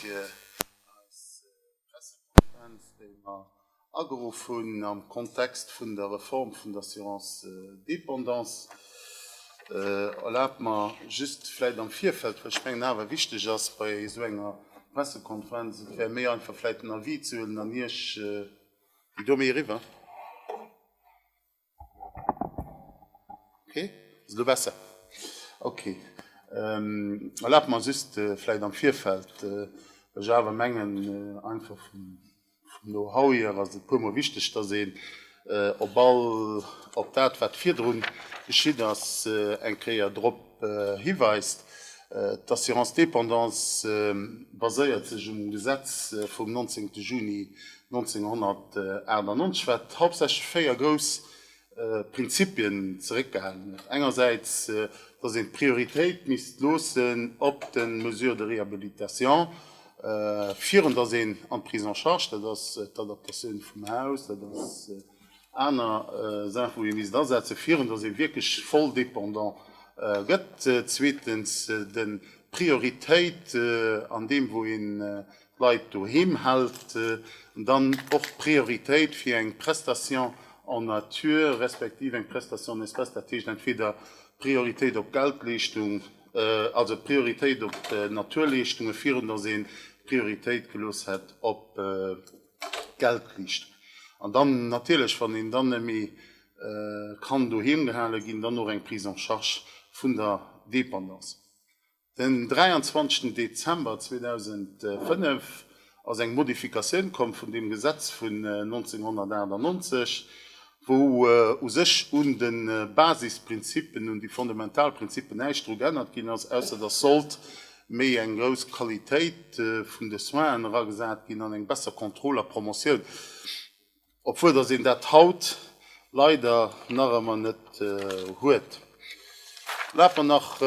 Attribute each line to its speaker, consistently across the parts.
Speaker 1: fir eis Pressekonferenz, déi mer ageruff hunn am Kontext vun der Reform vun der Assurance dépendance. Erlaabt mer just vläicht am Virfeld, well ech mengen awer wichteg ass bei esou enger Pressekonferenz, et wär méi einfach vläicht den Avis ze huelen an Iech, Domi, eriwwer. Okay, elo besser? Okay. Erlaabt mer just vläicht am Virfeld, well ech awer mengen, einfach vum Know-how hier ass et puermol wichteg, dass een op all, op dat, wat virdru geschitt ass, eng Kéier drop hiweist. D'Assurance dépendance baséiert sech um Gesetz vum 19 Juni 1998, wat hauptsächlech véier grouss Prinzipien zeréckgehalen huet. Engersäits, dass een d'Prioritéit misst loossen op de Mesures de réhabilitation, virun dass een an d'Prise en charge, dat ass d'Adaptatioun vum Haus, dat ass aner Saachen, wou ee misst asetze virun dass ee wierklech voll dépendant gëtt. Zweetens, de Prioritéit an deem wou ee Leit doheem hält, an dann och d'Prioritéit fir eng Prestation en nature respektiv eng Prestation en espèces, dat heescht entweder d'Prioritéit op d'Geldleeschtung, also d'Prioritéit op d'Naturleeschtunge virun datt een d'Prioritéit gelooss hätt op d'Geldleeschtung. An dann natierlech, wann een dann méi kann doheem gehale ginn, dann och eng Prise en charge vun der Dépendance. Den 23 Dezember 2005 ass eng Modifikatioun komm vun deem Gesetz vun 1998, wou u sech un de Basisprinzippen, un déi fondamental Prinzippen näischt dru geännert ginn ass, ausser dass sollt méi eng grouss Qualitéit vun de Soinen eragesat ginn an eng besser Kontroll a Promotioun. Obwuel dass een dat haut leider nach ëmmer net huet. Laf mer nach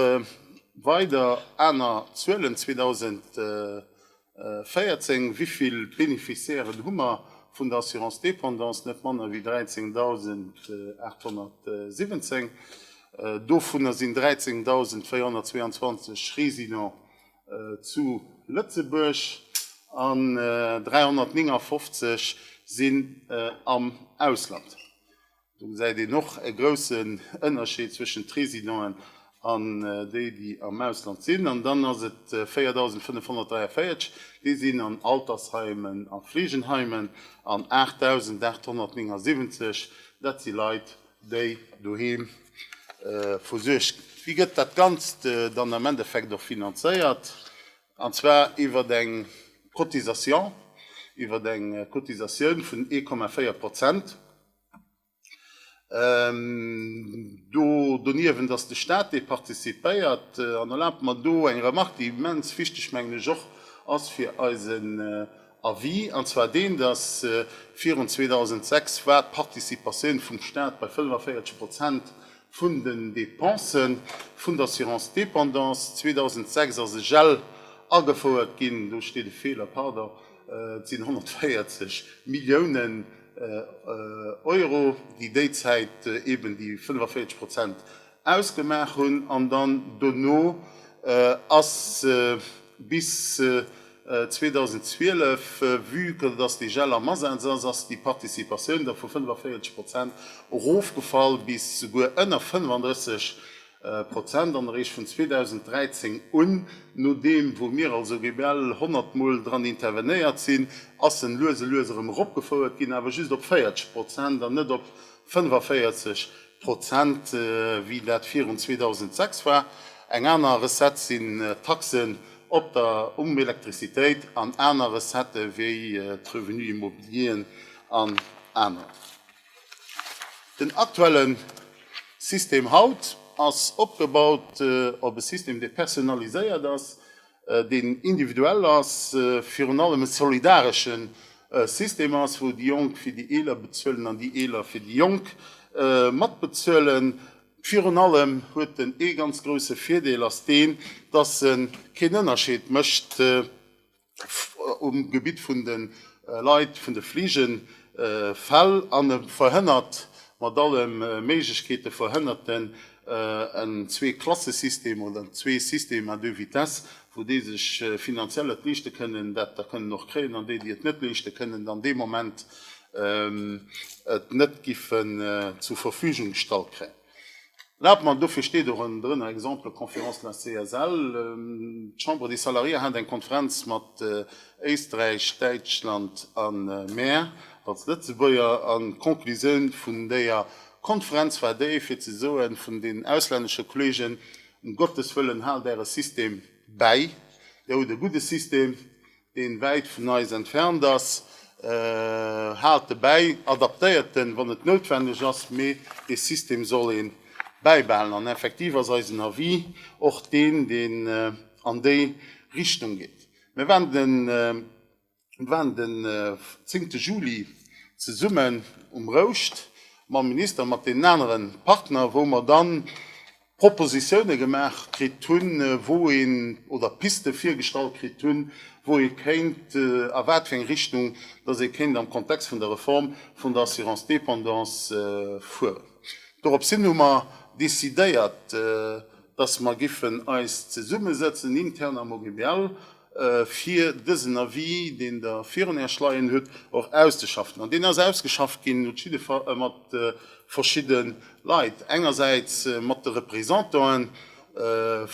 Speaker 1: weider, aner Zuelen, 2014, Wéivill Beneficiairen hu mer vun der Assurance dépendance? Net manner wéi 13.817. Dovunner sinn 13.422 Résidents zu Lëtzebuerg an 359 sinn am Ausland. Do gesäit een och e groussen Ënnerscheed zwëschen d'Résidenten an déi, déi am Ausland sinn. An dann ass et 4.543, déi sinn an Altersheimen a Fleegenheimen an 8.879, dat si Leit, déi doheem versuergt ginn. Wéi gëtt dat Ganzt dann am Endeffekt och finanzéiert? An zwar iwwert eng Cotisation, iwwert eng Cotisatioun vun 1,4 Prozent. Do doniewent ass de Stat, dee participéiert. An erlaabt mer do eng Remark, déi immens wichteg, mengen ech, och ass fir eisen Avis, an zwar deen, dass virun 2006 war d'Participatioun vum Stat bei 45 Prozent vun den Depense vun der Assurance dépendance. 2006 ass e Gel agefouert ginn, do steet e Feeler, pardon, et sinn 140 Milliounen Euro, déi déizäit eeben déi 45 Prozent ausgemaach hunn an dann dono ass se bis 2012, vue que dass de Gel am Asaz ass, ass déi Participatioun da vu 45 Prozent erofgefall bis souguer ënner 35 Prozent an eréischt vun 2013 un, nodeem wou mir also rebell honnert mol dran intervenéiert sinn, ass en lues a lues erëm eropgefouert ginn, awer just op 40 Prozent an net op 45 Prozent, wéi dat virun 2006 war. Eng aner Recette sinn d'Taxen op der um Elektrizitéit an aner Recettë wéi d'Revenus immobilieren an aner. Den aktuelle System haut ass opgebaut op e System, dee personnaliséiert ass. deen individuell ass, virun allem e solidaresche System ass, wou déi Jonk fir déi Eeler bezuelen an déi Eeler fir déi Jonk matbezuelen. Virun allem huet en ee ganz grouse Virdeel, ass deen, dass e keen Ënnerscheed mécht um Gebitt vun de Leit, vun de Fliegefäll, an e verhënnert, mat alle Méiglechkeete verhënnert en, en Zwee-Klasse-System oder zwee Systèmes à deux vitesses, wou déi sech finanziell et leeschte kënnen, dat da kënnen och kréien, an déi, déi et net leeschte kënnen, dann dee Moment et net giffen zur Verfügung gestallt kréien. Erlaabt mer, dofir steet och en drënner Exemple Conférence de la CSL, d'Chambre des Salariés hat eng Konferenz mat Éisträich, Däitschland a mer als Lëtzebuerger, an d'Conclusioun vun déier D'Konferenz war déi fir ze soen vun den auslännesche Kollegen, Um Gottes wëllen, haalt äre System bäi, dir hutt e gudde System, deen wäit vun eis entfernt ass, haalt e bäi, adaptéiert en, wann et noutwenneg ass, mee dee System soll ee bäibehalen. An effektiv ass eisen Avis och deen, deen an déi Richtung geet. Mir waren den Mir waren den zéngte Juli zesummen um Rouscht mam Minister, mat deenen anere Partner, wou mer da Propositione gemaach kritt hunn, wou een, oder Piste virgestallt kritt hunn, wou ee kéint, a wat fir eng Richtung datt ee kéint am Kontext vun der Reform vun der Assurance dépendance fueren. Dorops hin hu mer décidéiert, datt mer giffen eis zesummesëtzen intern am OGBL fir dësen Avis, deen Der virun Äerch leien hutt, och auszeschaffen. An deen ass ausgeschafft ginn mat verschidde Leit, engersäits mat de Représentantë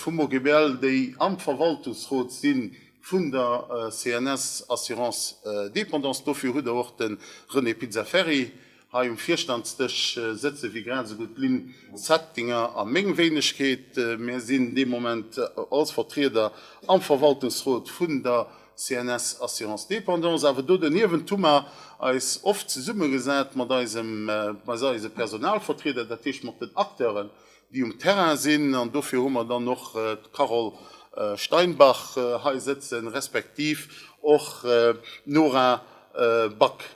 Speaker 1: vum OGBL, déi am Verwaltungsrot si vun der CNS Assurance Dépendance. Dofir hutt Der och de René Pizzaferri Hei um Virstandsdësch sëtze fir grad esou gutt d'Lynn Zettinger a meng Wéinegkeet. Mir sinn dee Moment als Vertrieder am Verwaltungsrot vun der CNS Assurance Dépendance. Awer do doniewent hu mer eis oft zesummegesat mat eise Personalvertrieder, dat heescht mat den Acteuren, déi um Terrain sinn. An dofir hu mer dann och d'Carole Steinbach hei sëtzen, respektiv och d'Nora Back.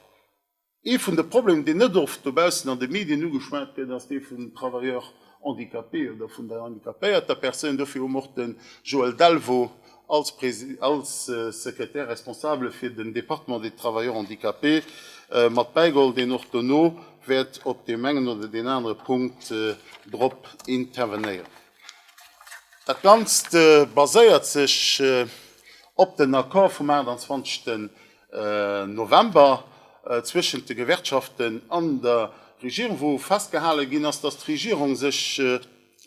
Speaker 1: Ee vun de Problemer, deen net oft dobaussen an de Medien ugeschwat gëtt, ass dee vum Travailleur handicapé oder vun der handicapéierter Persoun. Dofir hu mer och de Joël Delvaux als Sekretär responsabel fir den Département des travailleurs handicapés mat bäigeholl, deen och dono wäert op deem engen oder deen anere Punkt drop intervenéieren. Dat Ganzt baséiert sech op den Accord vum 28. November zwëschent de Gewerkschaften an der Regierung, wou festgehale ginn ass, datt d'Regierung sech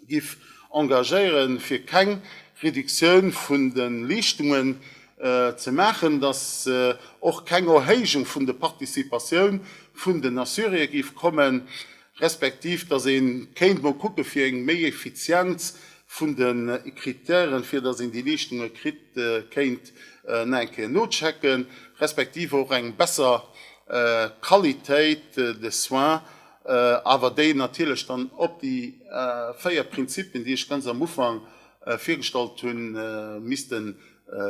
Speaker 1: giff engagéiere fir keng Reduktioun vun de Leeschtunge ze maachen, datt och keng Erhéijung vun de Participatioun vun den Assurier giff kommen. respektiv datt ee kéint mol kucke fir eng méi Effizienz vun de Krittären, fir datt een déi Leeschtunge kritt, kéint nach eng Kéier nochecken, respektiv och eng besser Qualitéit de soins, awer déi natierlech dann op déi véier Prinzippen, déi ech ganz am Ufank virgestallt hunn, misste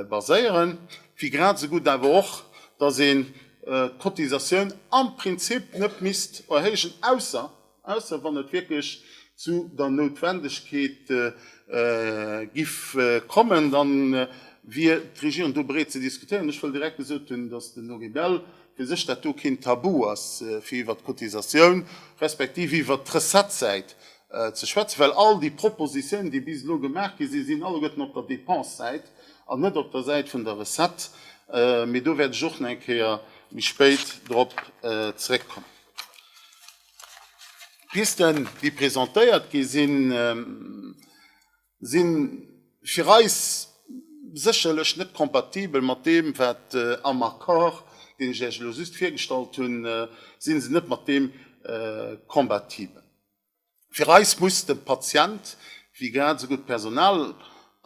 Speaker 1: baséieren, wéi grad esou gutt awer och, datt een d'Cotisatioun am Prinzip net misst erhéijen, ausser, ausser wann et wierklech zu der Noutwendegkeet giff kommen, da wier d'Regierung do bereet ze diskutéieren. Ech wëll direkt gesot hunn, dass den Henri Bell fir sech dat do keen Tabu ass, fir iwwert d'Cotisatioun, respektiv iwwert d'Recettes-Säit ze schwätzen, well all déi Propositionen, déi bis elo gemaach gi sinn, sinn alleguerten op der Dépensësäit an net op der Säit vun der Recette. Mee do wäert ech och nach eng Kéier méi spéit drop zrëckkommen. D'Pisten, déi presentéiert gi sinn, si fir eis sécherlech net kompatibel mat deem, wat am Accord, deen ech Iech elo just virgestallt hunn, si se net mat deem kompatibel. Fir eis muss de Patient, wéi grad esou gutt d'Personal,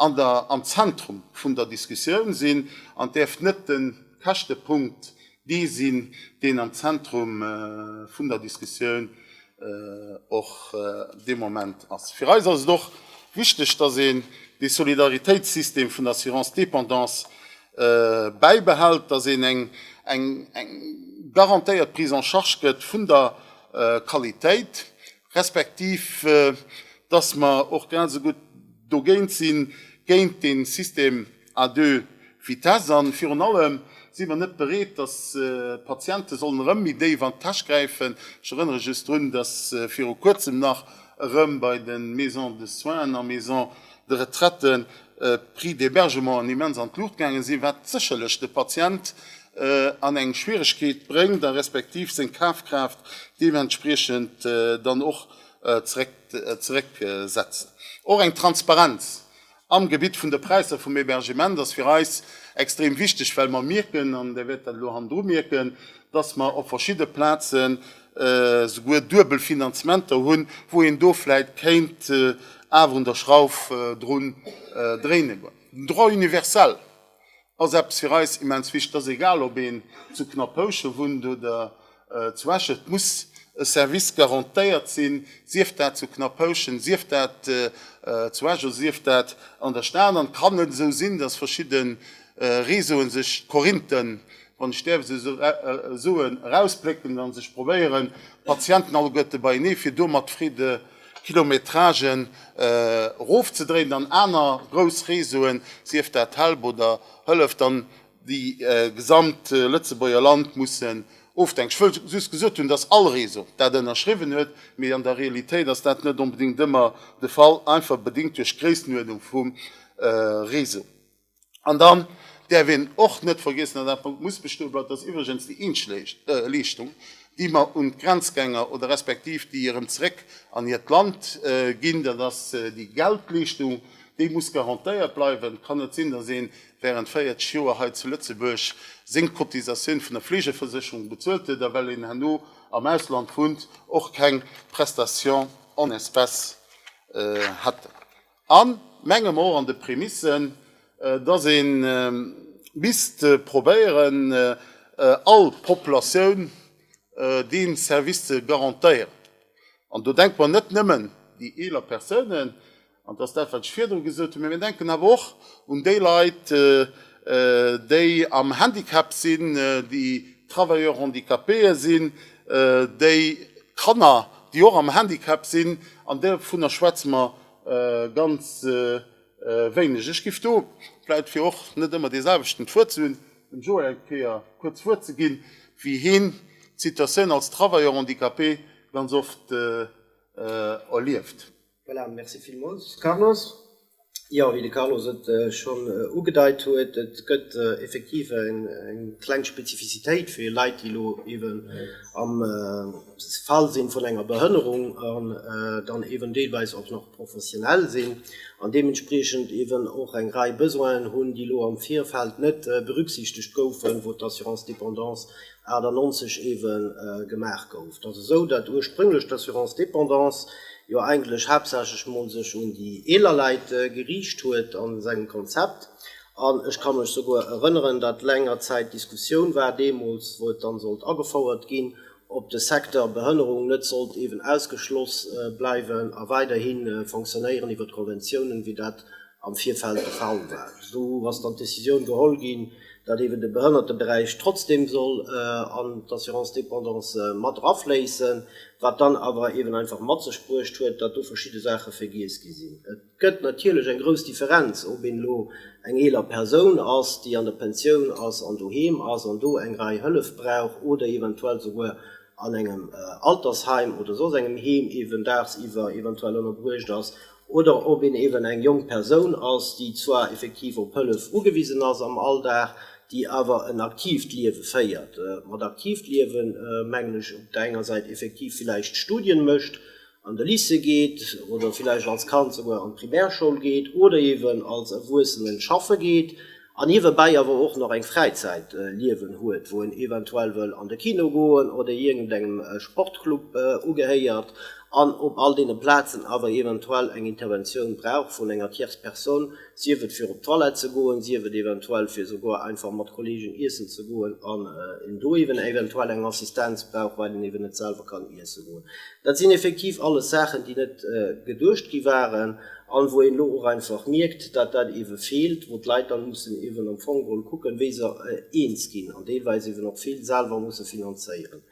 Speaker 1: an der am Zentrum vun der Diskussioun sinn an et däerf net de Käschtepunkt dee sinn, deen am Zentrum vun der Diskussioun och de Moment ass. Fir eis ass et och wichteg, dass een dee Solidaritéitssystem vun der Assurance dépendance bäibehält, dass een eng garantéiert Prise en charge gëtt vun der Qualitéit, respektiv dass mer och grad esou gutt dogéint sinn, géint dee System à deux vitesses. A virun allem si mer net bereet, dass d'Patiente sollen erëm méi déif an d'Täsch gräifen. Ech erënnere just drun, dass viru Kuerzem nach erëm bei de Maisons de soins a Maisons de retraite d'Prix d'hébergement immens an d'Luucht gaange sinn, wat sécherlech de Patient an eng Schwieregkeet bréngt a respektiv seng Kafkraaft deementspriechend dann och zerécksetzt. Och eng Transparenz am Gebitt vun de Präisser vum Hébergement ass fir eis extrem wichteg, well mer mierken, an Där wäert dat elo hannendru mierken, dass mer op verschidde Plazen souguer duebel Finanzementer hunn, wou een do vläicht kéint awer un der Schrauf drun dréinen. Den Droit universel, Ass eppes fir eis immens wichteg, dass egal ob een zu Knappouche wunnt oder zu Esch, et muss e Service garantéiert sinn, sief dat zu Knappouschen, sief dat zu Esch oder sief dat an der Stad. An et kann net esou sinn, dass verschidde Réseauen sech d'Korinthen, wann ech däerf esou soen, erausplécken a sech probéieren, d'Patienten alleguerte beienee fir do mat Freede Kilometragen erofzedréinen an aner grouss Réseauen, sief dat Help oder Hëllef, dann déi gesamt Lëtzebuerger Land mussen ofdenken. Ech wëll just gesot hunn, dass all Réseau dat ënnerschriwwen huet, mee an der Realitéit ass dat net onbedéngt ëmmer de Fall, einfach bedéngt duerch d'Gréissenuerdnung vum Réseau. An dann däerf een och net vergiessen, an dat muss bestoe bleiwen, dass iwwregens déi eenzeg Leeschtung, déi mer un d'Grenzgänger oder respektiv déi erëm zeréck an hiert Land ginn, dat ass déi Geldleeschtung, déi muss garantéiert bleiwen. Et kann net sinn, dass ee während 40 Joer hei zu Lëtzebuerg seng Cotisatioun vun der Fleegeversécherung bezuelt huet a well een herno am Ausland wunnt, och keng Prestation en espèces hätten. A mengem och an de Prémissen, dass ee misst probéieren, all Populatioun dee Service ze garantéieren. An do denke mer net nëmmen déi eeler Persounen, an dat ass dat, wat ech virdru gesot hunn, mä mir denken awer och un déi Leit, déi am Handicap sinn, déi Travailleurs handicapéë sinn, déi Kanner, déi och am Handicap sinn, an dovunner schwätze mer ganz wéineg. Ech giff do vläit, fir och net ëmmer dee selwechten d'Wuert ze hunn, dem Joe eng Kéier kuerz d'Wuert ze ginn, wéi heen d'Situatioun als Travailleur handicapé ganz oft erlieft. Voilà,
Speaker 2: merci villmools Carlos. Jo, wéi de Carlos et schonn ugedeit huet, et gëtt effektiv eng kleng Spezifizitéit fir Leit, déi elo eeben am, Fall sinn vun enger Behënnerung an dann eeben deelweis och nach professionell sinn an deementspriechend eeben och eng Rei Besoinen hunn, déi elo am Virfeld net berücksichtegt goufen, wou d'Assurance dépendance 98 eeben gemaach gouf. Et ass esou, datt ursprünglich d'Assurance dépendance jo eigentlech haaptsächlech emol sech un déi eeler Leit geriicht huet a sengem Konzept an ech ka mech souguer erënneren, datt längerzäit d'Diskussioun war deemools, wou et dann sollt agefouert ginn, ob de Secteur Behënnerung net sollt eeben ausgeschloss bleiwen a weiderhi fonctionnéieren iwwert Konventiounen, wéi dat am Virfeld de Fall war. Do ass dann d'Decisioun geholl ginn, datt eeben de Behënnerteberäich trotzdem soll an d'Assurance dépendance mat erafléissen, wat dann awer eeben einfach mat sech bruecht huet, datt do verschidde Saache vergiess gi sinn. Et gëtt natierlech eng grouss Differenz, ob een elo eng eeler Persoun ass, déi an der Pensioun ass an doheem ass an do eng Rei Hëllef brauch oder eventuell souguer an engem Altersheim oder soss engem Heem eeben daagsiwwer eventuell ënnerbruecht ass oder ob een eeben eng jonk Persoun ass, déi zwar effektiv op Hëllef ugewisen ass am Alldag, déi awer en aktiivt Liewe féiert. Mat aktiivt Liewen mengen ech op der enger Säit effektiv villäicht Studien mécht, an de Lycée geet oder villäicht als Kand souguer an d'Primärschoul geet oder eeben als Erwuessenen schaffe geet an niewebäi awer och nach eng Fräizäitliewen huet, wou en eventuell wëll an de Kino goen oder iergendengem Sportclub ugehéiert an op all deene Plazen awer eventuell eng Interventioun brauch vun enger Tierce Personne, Sief et fir op d'Toilette ze goen, sief et eventuell fir souguer einfach mat Kollegen iessen ze goen an een do eeben eventuell eng Assistenz brauch, well een eeben net selwer kann iesse goen. Dat sinn effektiv alles Saachen, déi net geduecht gi waren an wou een elo och einfach mierkt, datt dat eebe feelt, wou d'Leit dann mussen eeben am Fong geholl kucken, wéi se eens ginn an deelweis eeben och vill selwer musse finanzéieren.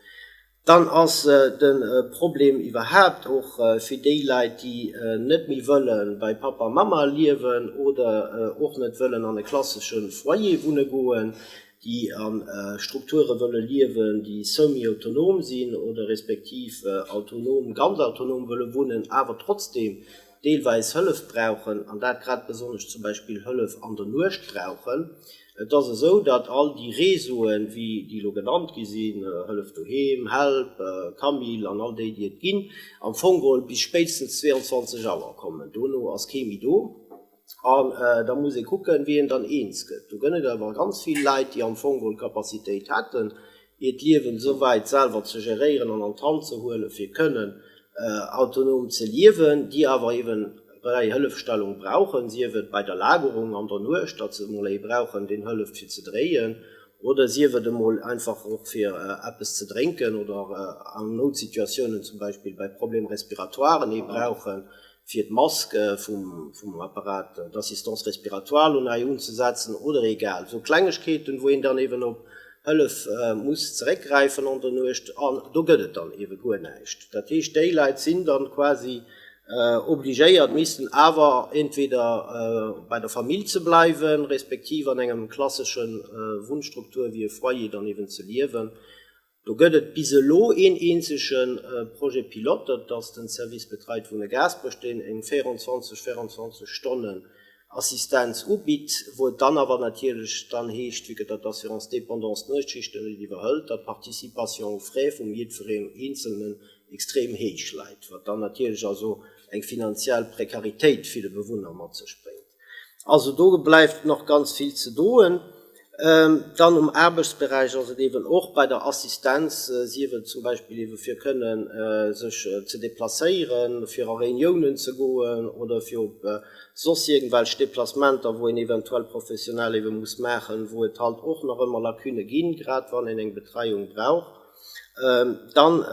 Speaker 2: Dann ass de Problem iwwerhaapt och fir déi Leit, déi net méi wëlle bei Pappa a Mamma liewen oder och net wëllen an e klassesche Foyer wunne goen, déi a Strukture wëlle liewen, déi semi-autonom sinn oder respektiv autonom, ganz autonom wëlle wunnen, awer trotzdeem deelweis Hëllef brauchen, an dat grad besonnesch zum Beispill Hëllef an der Nuecht brauchen. Et ass esou, datt all déi Réseauen, wéi déi elo genannt gi sinn, Hëllef Doheem, Help, Camille an all déi, déi et ginn, am Fong geholl bis spéitstens 22 Auer kommen. Dono ass kee méi do. An da muss ee kucken, wéi een dann eens gëtt. Do gëtt et awer ganz vill Leit, déi am Fong geholl d'Capacitéit hätten, hiert Liewen esou wäit selwer ze geréieren an an d'Hand ze huelen, fir kënnen autonom ze liewen, déi awer eben bei der Hëllefstellung brauchen, sief et bei der Lagerung an der Nuecht, datt se emol ee brauchen, deen hëlleft fir ze dréien, oder sief et emol einfach och fir eppes ze drénken oder an Noutsituatiounen, zum Beispill bei Problèmes respiratoires, ee brauchen, fir d'Mask vum Apparat d'assistance respiratoire elo nei unzesetzen oder egal esou Klengegkeeten, wou een dann eeben op Hëllef muss zeréckgräifen an der Nuecht an do gëtt et dann eebe guer näischt. Dat heescht, déi Leit sinn dann quasi obligéiert, missten awer entweder bei der Famill ze bleiwen, respektiv an engem klasseschen Wunnstruktur wéi e Foyer dann eeben ze liewen. Do gëtt et bis elo een eenzege Projet pilote, dat ass den Service Betreit Wunnen Gaasperech, deen eng 24, 24 Stonnen Assistenz ubitt, wou et dann awer natierlech dann heescht, vu que dat d'Assurance dépendance d'Nuechtschichten net iwwerhëlt, datt d'Participation aux frais vum jiddwereen Eenzelnen extrem héich läit, wat dann natierlech also eng finanziell Prekaritéit fir de Bewunner mat sech bréngt. Also do bleift nach ganz vill ze doen. Dann um Aarbechtsberäich ass et eeben och bei der Assistenz, sief et zum Beispill eebe fir kënnen sech ze deplacéieren, fir a Reuniounen ze goen oder fir op soss iergendwelch Deplacementer, wou een eventuell professionell eebe muss maachen, wou et halt och nach ëmmer Lacunne ginn, grad wann een eng Betreiung brauch. Dann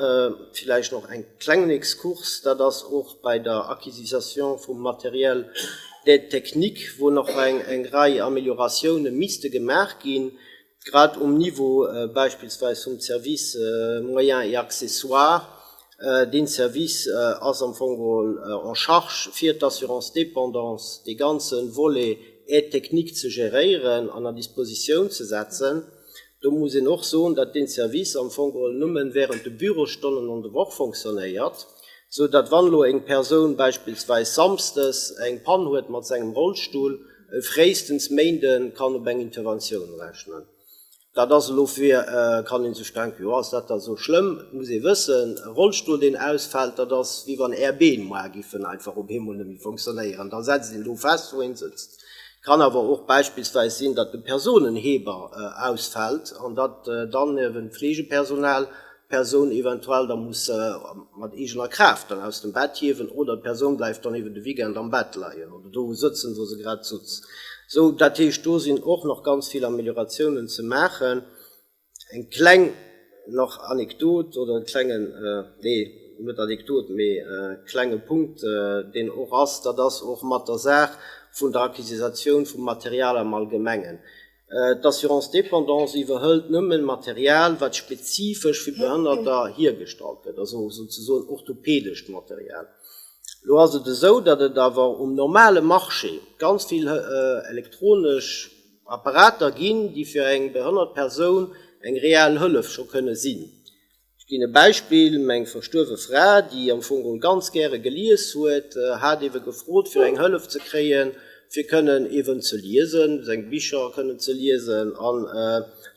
Speaker 2: villäicht nach en klengen Exkurs, dat ass och bei der Acquisisation vum Matériel d'aide technique, wou nach eng Rei Amélioratiounen misste gemaach ginn, grad um Niveau beispillsweis vum Service Moyens et accessoires. Deen Service ass am Fong geholl en charge fir d'Assurance dépendance dee ganze Volet aide technique ze geréieren an a Dispositioun ze setzen. Do muss een och soen, datt dee Service am Fong geholl nëmme während de Bürosstonnen an de Woch fonctionnéiert, sou datt wann elo eng Persoun beispillsweis samsdes eng Pann huet mat sengem Rollstull, e fréistens Méinde kann op eng Interventioun rechnen. Dat ass elo fir, kann ee sech denken, jo ass dat da esou schlëmm? Et muss ee wëssen, e Rollstull deen ausfält, dat ass wéi wann Är Been moar giffen einfach op eemol net méi fonctionnéieren, da setzt een do fest wou een sëtzt. Kann awer och beispillsweis sinn, datt de Personenheber ausfält an datt dann ewent d'Fleegepersonal d'Persoun eventuell da muss mat eegener Kraaft dann aus dem Bett hiewen oder d'Persoun bleift dann eben de Weekend am Bett leien oder do sëtzen, wou se grad sutz. Sou, dat heescht, do sinn och nach ganz vill Amelioratiounen ze maachen. Eng kleng nach Anekdot oder e klengen, nee net Anekdot, mee e klenge Punkt deen och ass, dat ass och mat der Saach vun der Acquisisatioun vum Material am Allgemengen. D'Assurance dépendance iwwerhëlt nëmme Material wat spezifesch fir Behënnerter hiergestallt gëtt, also souzesoen orthopedescht Material. Elo ass et esou, datt et awer um normale Marché ganz vill elektronesch, Apparater ginn, déi fir eng behënnert Persoun eng reell Hëllef scho kënne sinn. Ech ginn e Beispill, Meng verstuerwe Fra, déi am Fong geholl ganz gäre gelies huet, hat iewe gefrot fir eng Hëllef ze kréien, fir kënnen iewen ze liesen, seng Bicher kënnen ze liesen. An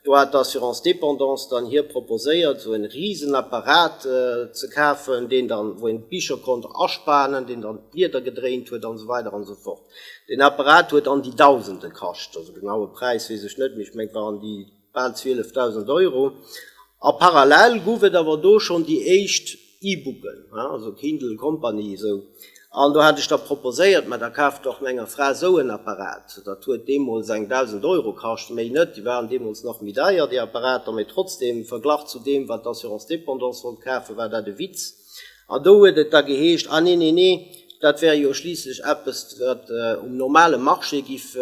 Speaker 2: do hat d'Assurance dépendance dann hir proposéiert, esou en risen Apparat ze kafen, deen dann, wou een d'Bicher konnt aspanen, deen dann d'Blieder gedréint huet an esou weider an esou fort. Deen Apparat huet an déi Dausende kascht, also de genaue Präis weess ech net, mee ech mengt war an déi bal 12.000 Euro. A parallel guff et awer do schonn déi éischt E-Booken, also Kindle Company esou. An do hat ech da proposéiert, mä da kaaft dach menger Fra esou en Apparat. Dat huet deemools eng Dausend Euro kascht, méi net, déi waren deemools nach méi deier déi Apparater, mä trotzdem, verglach zu deem wat d'Assurance Dépendance wollt kafen, war dat e Witz. An do huet et da geheescht, ah nee, nee, nee, dat wär jo schliisslech eppes, wat um normale Marché giff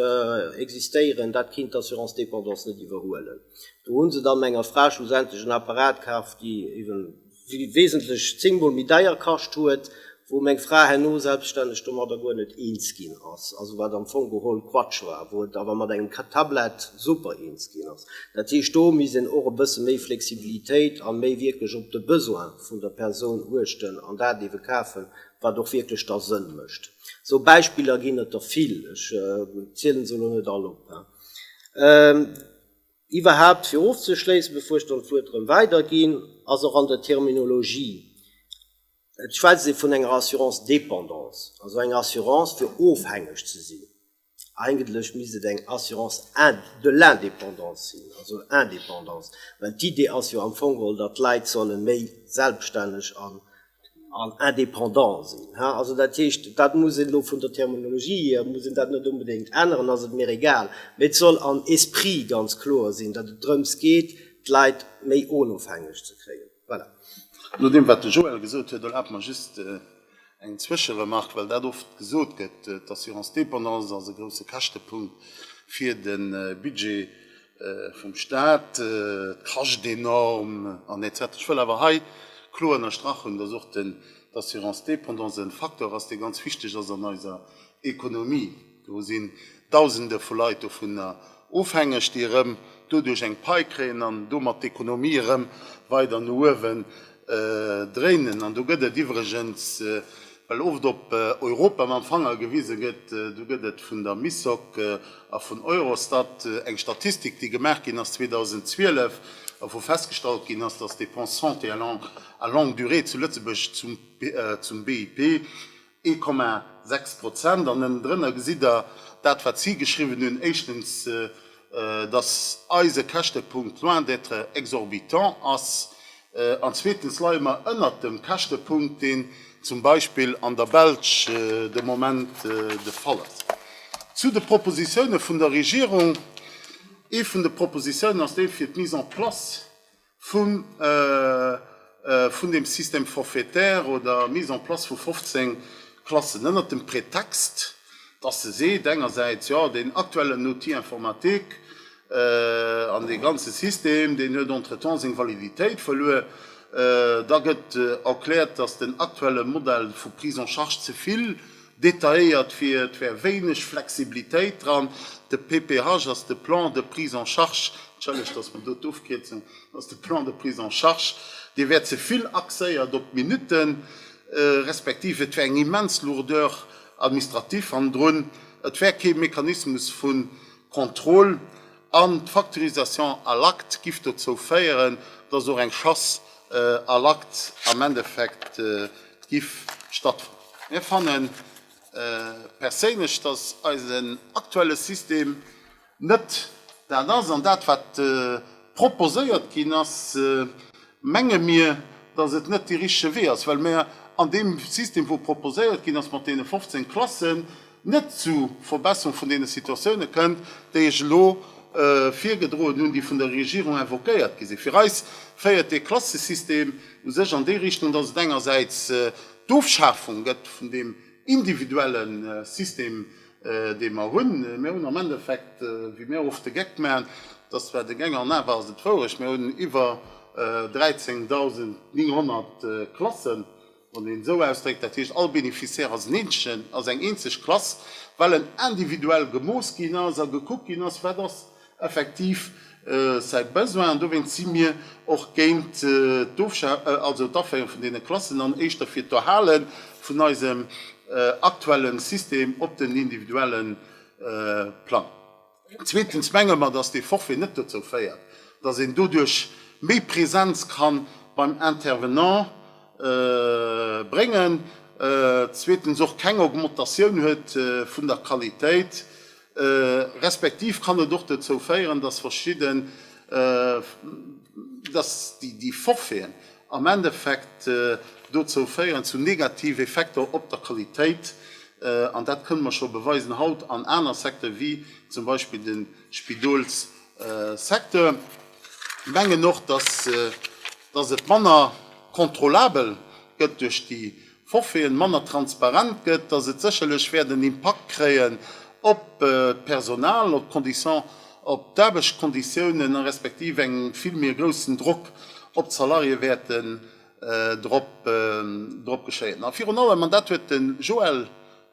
Speaker 2: existéieren, dat kéint d'Assurance dépendance net iwwerhuelen. Do hu se dann enger Fra schlussendlech en Apparat kaf, dee wesentlech zéngmol méi deier kascht huet, wou meng Fra herno selbststänneg domadder guer net eens ginn ass, also wat am Fong geholl Quatsch war, wou et awer mat engem Tablett super eens ginn ass. Dat heescht, do misst een och e bësse méi Flexibilitéit a méi wierklech op de Besoin vun der Persoun uechten an dat ewe kafen, wat och wierklech da Sënn mécht. Esou Beispiller ginn et der vill, ech zielen se elo net all op. Iwwerhaupt, fir ofzeschléissen, bevor ech dann d'Wuert erëm weiderginn, ass och an der Terminologie, et schwätzt ee vun enger Assurance dépendance, also eng Assurance fir ofhängeg ze sinn, Eigentlech misst et eng Assurance de l'indépendance sinn, also Indépendance, well d'Idee ass jo am Fong geholl, datt d'Leit solle méi selbstänneg an indépendant sinn. Also dat heescht, dat muss een elo vun der Terminologie hier, muss een dat net onbedéngt änneren, ass et mir egal, mee et soll am Esprit ganz kloer sinn, datt et drëms geet, d'Leit méi onofhängeg ze kréien. Voilà. No deem, wat de
Speaker 1: Joël gesot huet, erlaabt mer just eng Zwëscheremark, well dat oft gesot gëtt, D'assurance dépendance ass e grouse Käschtepunkt fir de Budget vum Stat, et kascht enorm an etc. Ech wëll awer hei kloer ënnerstrach hunn, dass och d'assurance dépendance e Facteur ass, dee ganz wichteg ass an eiser Économie. Do sinn Dausende vu Leit dovunner ofhängeg, déi erëm doduerch eng Pai kréien an domat d'Ekonomie erëm weider no uewen dréinen. An do gëtt et iwwregens, well oft op Europa mam Fanger gewise gëtt, do gëtt et vun der MISOC a vun Eurostat eng Statistik, déi gemaach ginn ass 2012 a wou festgestallt ginn ass, datt d'Dépenses santé à longue durée zu Lëtzebuerg zum BIP 1,6 Prozent. An ënnendrënner gesitt Der dat, wat si geschriwwen hunn, éischtens, dass eise Käschtepunkt loin d'être exorbitant ass, an zweetens leie mer ënnert dem Käschtepunkt, deen zum Beispill an der Belsch de Moment de Fall ass. Zu de Propositioune vun der Regierung, Ee vun de Propositioune ass dee fir d'Mise en place vun dem Système forfaitaire oder Mise en place vu 15 Klassen, ënnert dem Pretext, dass se seet, engersäits, jo, deen aktuellen Outil informatique an dee ganze System, deen huet entretemps seng Validitéit verluer. Da gëtt erkläert, dass den aktuelle Modell vu Prise en charge ze vill, Detailléiert fir et wär wéineg Flexibilitéit dran. De PPH ass de Plan de prise en charge, entschëllegt, datt mer do d'Ofkierzung, ass de Plan de prise en charge, dee wär ze vill axéiert op d'Minutten, respektiv et wär eng immens Lourdeur administrative hannendrun. Et wär kee Mechanismus vu Contrôle. An d'Facturisation à l'acte giff dozou féieren, dass och eng Chasse à l'acte am Endeffekt giff stattfannen. Mir fannen perséinlech, dass eisen aktuelle System net dat ass, an dat wat proposéiert ginn ass, menge mir, dass et net dee richtege Wee ass, well mer an deem System wou proposéiert ginn ass mat deene 15 Klassen, net zu Verbesserung vun deene Situatiounen kënnt, déi ech elo virgedroen hunn, déi vun der Regierung invoquéiert gi sinn. Fir eis féiert dee Klassesystem u sech an déi Richtung, dass et engersäits d'Ofschafung gëtt vun deem individuelle System, dee mer hunn. Mir hunn am Endeffekt, wéi mir oft de Geck maachen, dass zwar deng eng an awer ass et wourecht, mir hunn iwwer 13.900 Klassen, wann een esou ausdréckt, dat heescht all Beneficiaire ass en Eenzelchen, ass eng eenzeg Klass, well en individuell gemooss ginn ass a gekuckt ginn ass, wat ass effektiv säi Besoin. An dowéinst si mir och géint d'Aféiere vun deene Klassen an éischter fir d'Erhale vun eisem aktuelle System op den individuelle Plang. Zweetens menge mer, dass dee Forfait net dozou féiert, dass een doduerch méi Präsenz ka beim Intervenant bréngen, zweetens och keng Augmentatioun huet vun der Qualitéit, respektiv kann et och dozou féieren, dass verschidden, dass déi Forfaiten, am Endeffekt dozou féieren, zu negative Effekter op der Qualitéit, an dat kënne mer scho beweisen haut an aner Secteur wéi zum Beispill de Spidolssecteur. Ech mengen och, dass et manner contrôlabel gëtt duerch déi Forfaiten manner transparent gëtt, datt et sécherlech wäert en Impakt kréien op d'Personal, op d'Condition, op d'Aarbechtskonditiounen, respektiv eng vill méi groussen Drock op d'Salarié wäerten drop geschéien. A virun allem, an dat huet de Joël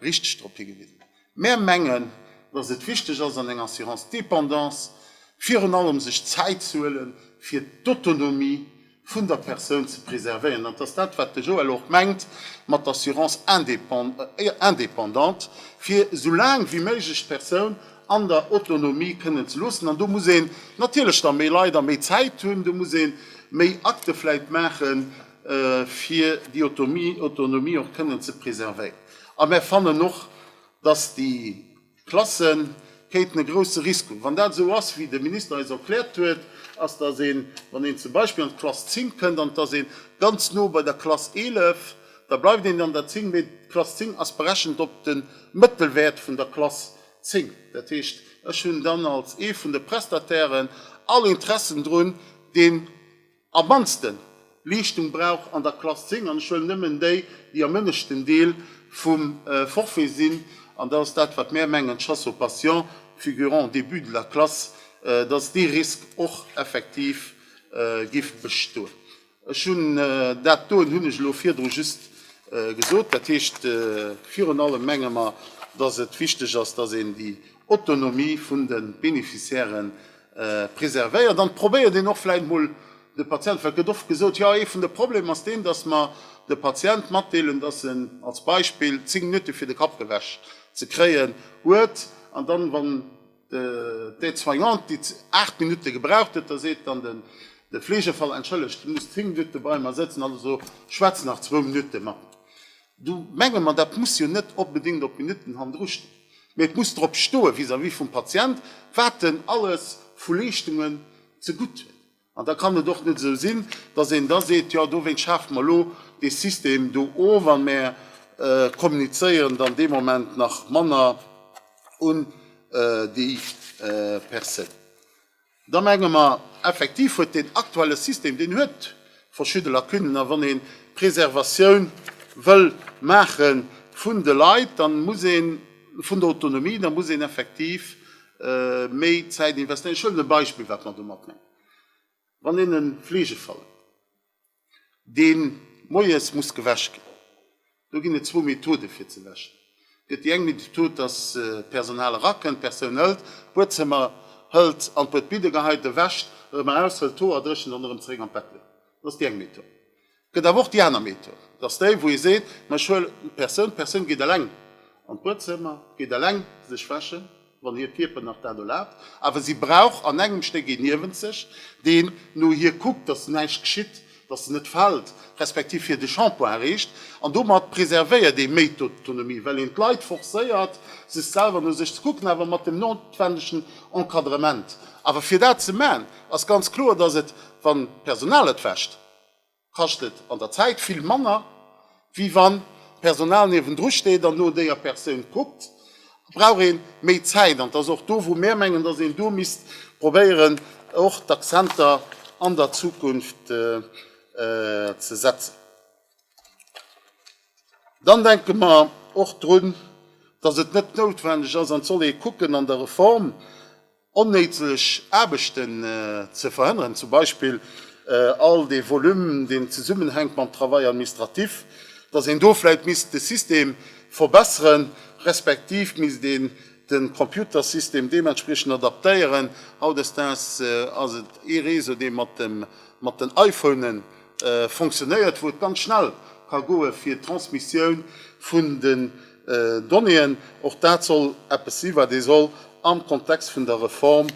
Speaker 1: richteg drop higewisen, Mär mengen, dass et wichteg ass an enger Assurance dépendance virun allem sech Zäit ze huele fir d'Autonomie vun der Persoun ze preservéieren. Dat ass dat, wat de Joël och mengt mat d'Assurance indépendante, fir esou laang wéi méiglech d'Persoun an der Autonomie kënnen ze loossen. An do muss een natierlech da méi Leit a méi Zäit hunn, do muss ee méi Akte vläicht maachen. fir déi Autonomie och kënnen ze preservéieren. A mär fannen och, dass déi Klasse kéinten e grousse Risk hunn. Wann dat esou ass, wéi de Minister eis erkläert huet, ass, dass een, wann een zum Beispill an d'Klass 10 kënnt an et ass ee ganz no bei der Klass 11, da bleift een an der 10, mee d'Klass 10 ass berechent op de Mëttelwäert vun der Klass 10. Dat heescht, ech hunn dann als ee vun de Prestatairen all Interessen drun, dee. Am mannste Leeschtung brauch an der Klass 10, an ech huelen nëmmen déi, déi am ënneschten Deel vum Forfait sinn, an dat ass dat, wat mär mengen, Chasse aux patients figurant au début de la classe, dass dee Risk och effektiv géif bestoen. Ech hunn dat doen hunn ech elo virdru just gesot. Dat heescht, virun allem menge mer, dass et wichteg ass, dass een déi Autonomie vun de Bénéficiairen preservéiert an probéiert een och vläit mol de Patient, well et gëtt oft gesot, jo ee vun de Problemer ass deen, datt mer de Patient matdeelen, datt en als Beispill 10 Minutte fir de Kapp gewäsch ze kréien huet an dann, wann d'Aide-soignante déi 8 Minutte gebraucht huet, da seet dann de Fleegefaller, entschëllegt, du muss 10 Minutte bei mer sëtzen, also schwätz nach zwou Minutte mat. Do menge mer, dat muss jo net onbedéngt op Minutten hannendru stinn, mee et muss drop stoe vis-à-vis vum Patient, wat en alles vu Leeschtungen zegutt huet. An da kann et och net esou sinn, datt een da seet, jo dowéint schafe mer elo dee System do of a mer kommunizéieren dann dee Moment nach manner un déi Persoun. Da menge mer, effektiv huet deen aktuelle System, deen huet verschidde Lacunen. A wann ee Preservatioun wëll maache vun de Leit, da muss een, vun der Autonomie, da muss een effektiv méi Zäit investéieren. Ech huelen e Beispill, wat mer domat mengen, Wann een e Fleegefall huet, dee moies muss gewäsch ginn. Do ginn et zwou Methode fir ze wäschen. Et gëtt déi eng Method, dass d'Personal erakënnt, d'Persoun hëlt d'Buedzëmmer, hëlt an d'Bued Biddegeheite wäscht, erëm eraus hëlt d'Hoer, dréchent an erëm zeréck an d'Bett leet. Dat ass déi eng Method. Et gëtt awer och déi aner Method. Dat ass déi, wou ee seet, ma ech huelen d'Persoun, d'Persoun geet eleng an d'Buedzëmmer, geet eleng sech wäschen, wann hiert Kierper nach dat erlaabt, awer si brauch an engem Stéck ee niewent sech, deen no hir kuckt, dass näischt geschitt, dass se net fält, respektiv hir de Shampoing erreecht. An domat preservéiert ee méi d'Autonomie, well een d'Leit forcéiert, sech selwer no sech ze kucken, awer mat dem noutwendegen Encadrement. Awer fir dat ze maachen, ass ganz kloer, dass et, wann d'Personal et wäscht, kascht et an der Zäit vill manner, wéi wann d'Personal niewendru steet an no déier Persoun kuckt, brauch ee méi Zäit. An et ass och do, wou mär mengen, dass een do misst probéieren, och d'Accenter an der Zukunft ze setzen. Dann denke mer och drun, dass et net noutwendeg ass, an et soll ee kucken an der Reform, onnéideg Aarbechten ze verhënneren, zum Beispill all dee Volume, deen zesummenhänkt mam Travail administratif, dass een do vläicht misst de System verbesseren, respektiv misst een de Computersystem deementspriechend adaptéieren. Hautdesdaags ass et ee Réseau, dee mat den iPhone fonctionnéiert, wou et ganz schnell ka goen, fir d'Transmissioun vun de Donnéeën, och dat soll eppes si wat ee soll am Kontext vun der Reform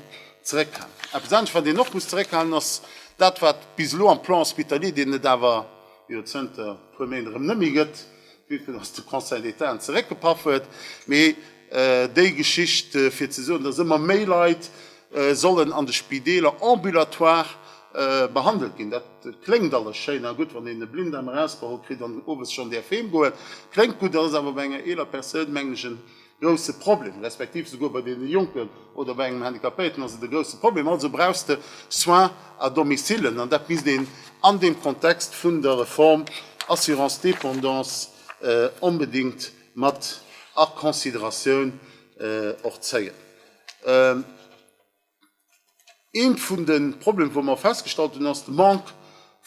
Speaker 1: zeréckhalen. Eppes anescht wat een och muss zeréckhalen ass dat wat bis elo am Plan hospitalier, deen et awer jo zënter e puer Méint erëm net méi gëtt, vue que datt de Conseil d'État en zeréckgepaff huet, mee déi Geschicht fir ze soen, datt ëmmer méi Leit sollen an de Spideeler ambulatoire behandelt ginn. Dat kléngt alles schéin a gutt, wann een e Blinddarm erausgeholl kritt an owes schonn däerf heem goen. Kléngt gutt, ass awer bei enger eeler Persoun, mengen ech, e grousse Problem, respektiv souguer bei deene Jonken oder bei engem Handicapéierten ass et e grousse Problem. Also brauchst de Soins à domicile an dat misst een an deem Kontext vun der Reform Assurance dépendance onbedéngt mat a Consideratioun och zéien. Ee vun de Problemer, wou mer festgestallt hunn, ass de Manque